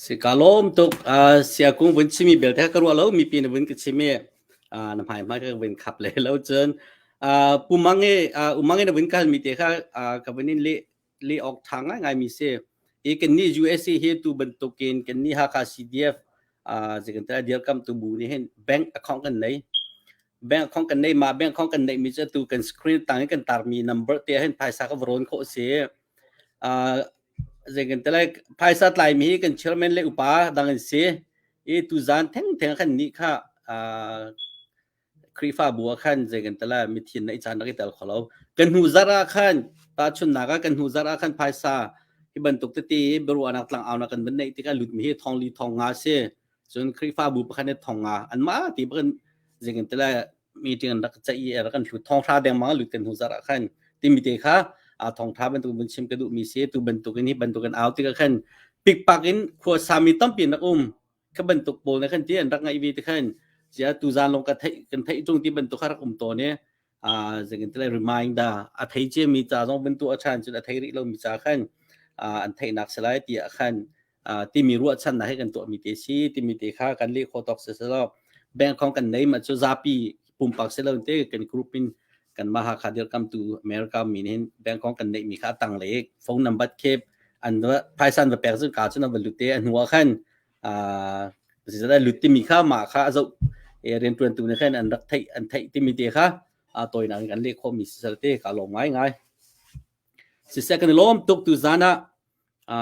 Sika lawm tuk. Uh, siakung vun chimmi belte kha ka ruah lo. Mipi na vun ka chim i uh, na hmaihmai kha ka vun khap le lo cun uh, pumang i uh, umang i na vun kalmi te kha uh, ka vun in leh leh awk ṭha ngaingai mi si. I kannih USA hi tu bantukin kannih Hakha CDF uh, zikan ta dirkamtu bu nih hin bank account kan nei. Bank account kan nei ma bank account kan nei mi cu tu kan screen tang i kan tarmi number te hin phaisa ka va rawn khawh si. Phaisa tlaimi hi kan chairman le upa dang an si i tuzaan thengtheng khan nih kha Khrihfabu ah khan zeigantelah mithin na i caan rak i tel kho lo. Kan hnu zarh ah khan tahchunhnak ah kan hnu zarh ah khan phaisa hi bantuk tete biaruahnak tlangaunak kan van neih tikah lutmi hi thong li thong nga a si. cun Khrihfabu pakhat nih thong ah anmah ti bakin zingin tila meeting an rak caih i a rak an hlut thong hra dengmang lut kan hnu zarh ah khan timi te kha a thong hra bantuk vun chim ka duh mi si tu bantukin hi bantukin au tik ah khan pikpak in khua sami tampi nak um kha bantuk pawl ne khan ti an rak ngai ve te khan jia tu zan long ka thei kan thei chung ti bantuk har um to ne uh, zingin tele reminder a thei che mi ca zong bin tu a chan cun a thei rih lo mi ca khan uh, an thei nak selai ti a khan uh, ti mi ruah chan na he kan to mi te si ti mi te kha kan le kho tok se selo bank hong kan nei ma chu zapi pumpak se lo te kan group in kan maha kha dir kam tu america min hin bank hong kan nei mi kha tang le phone number khep an phaisan va pek zun ka chun va lute anua khan uh, pasal ai lut timi kha ma kha azo e riantuan tu ne khan an rak thei an thei timi te kha a toy nang kan le kho mi sal te ka lom ngai ngai si se kan lom tuk tu zana a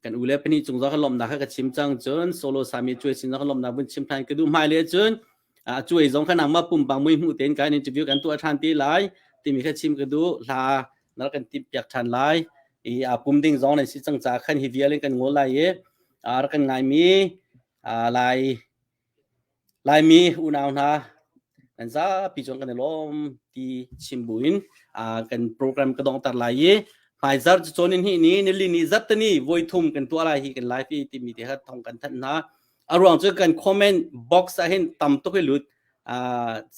kan ule pani chung za kan lom na kha ka chim chang chun solo sami chui sin na kan lom na bun chim than ke du mai le chun a cuai zong kan nangma pumpang mui hmu ten kan interview kan tuah than ti lai timi kha chim ka du hla na kan tip piak than lai i a pum ding zong nan si chang cha khan hi vial in kan ngol lai e ar kan ngai mi lai lai mi unau hna an za pi chon kan lom ti chim buin kan program ka dong tar lai ye mai zar chonin hi ni ni li ni zat ni voi thum kan tua lai hi kan lai pi ti mi te ha thong kan than na a ruang cu kan comment box ah hin tam tuk hi lut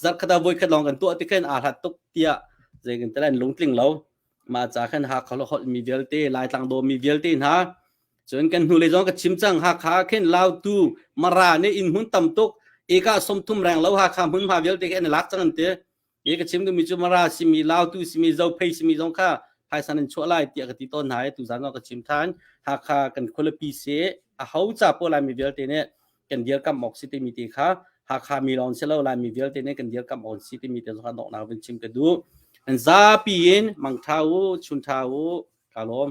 zat khata voi khat long kan tuah ti khan a hlat tuk tia zei kan talan lungtling lo ma cha khan ha kholo hot mi vialte lai tlang do mi vialte hna cun kan hnu le zong ka chim chang ha kha khen lao tu mara ne in hun tam tuk eka som thum reng lo ha kha mun ma vialte khen lak chang an te i ka chim duhmi cu mara simi lautu simi zophei simi zong kha phaisa nan chuah lai tiah ka ti tawn hna i tu zan ka chim than hakha kan khualapi se a ho ca po lai mi vialte nih kan dir kam ok si timi te kha hakha mi lon se lo lai mi vialte nih kan dir kam on si timi te zong dok na vin chim ka du an zapi in mang tha u chun tha u ka lom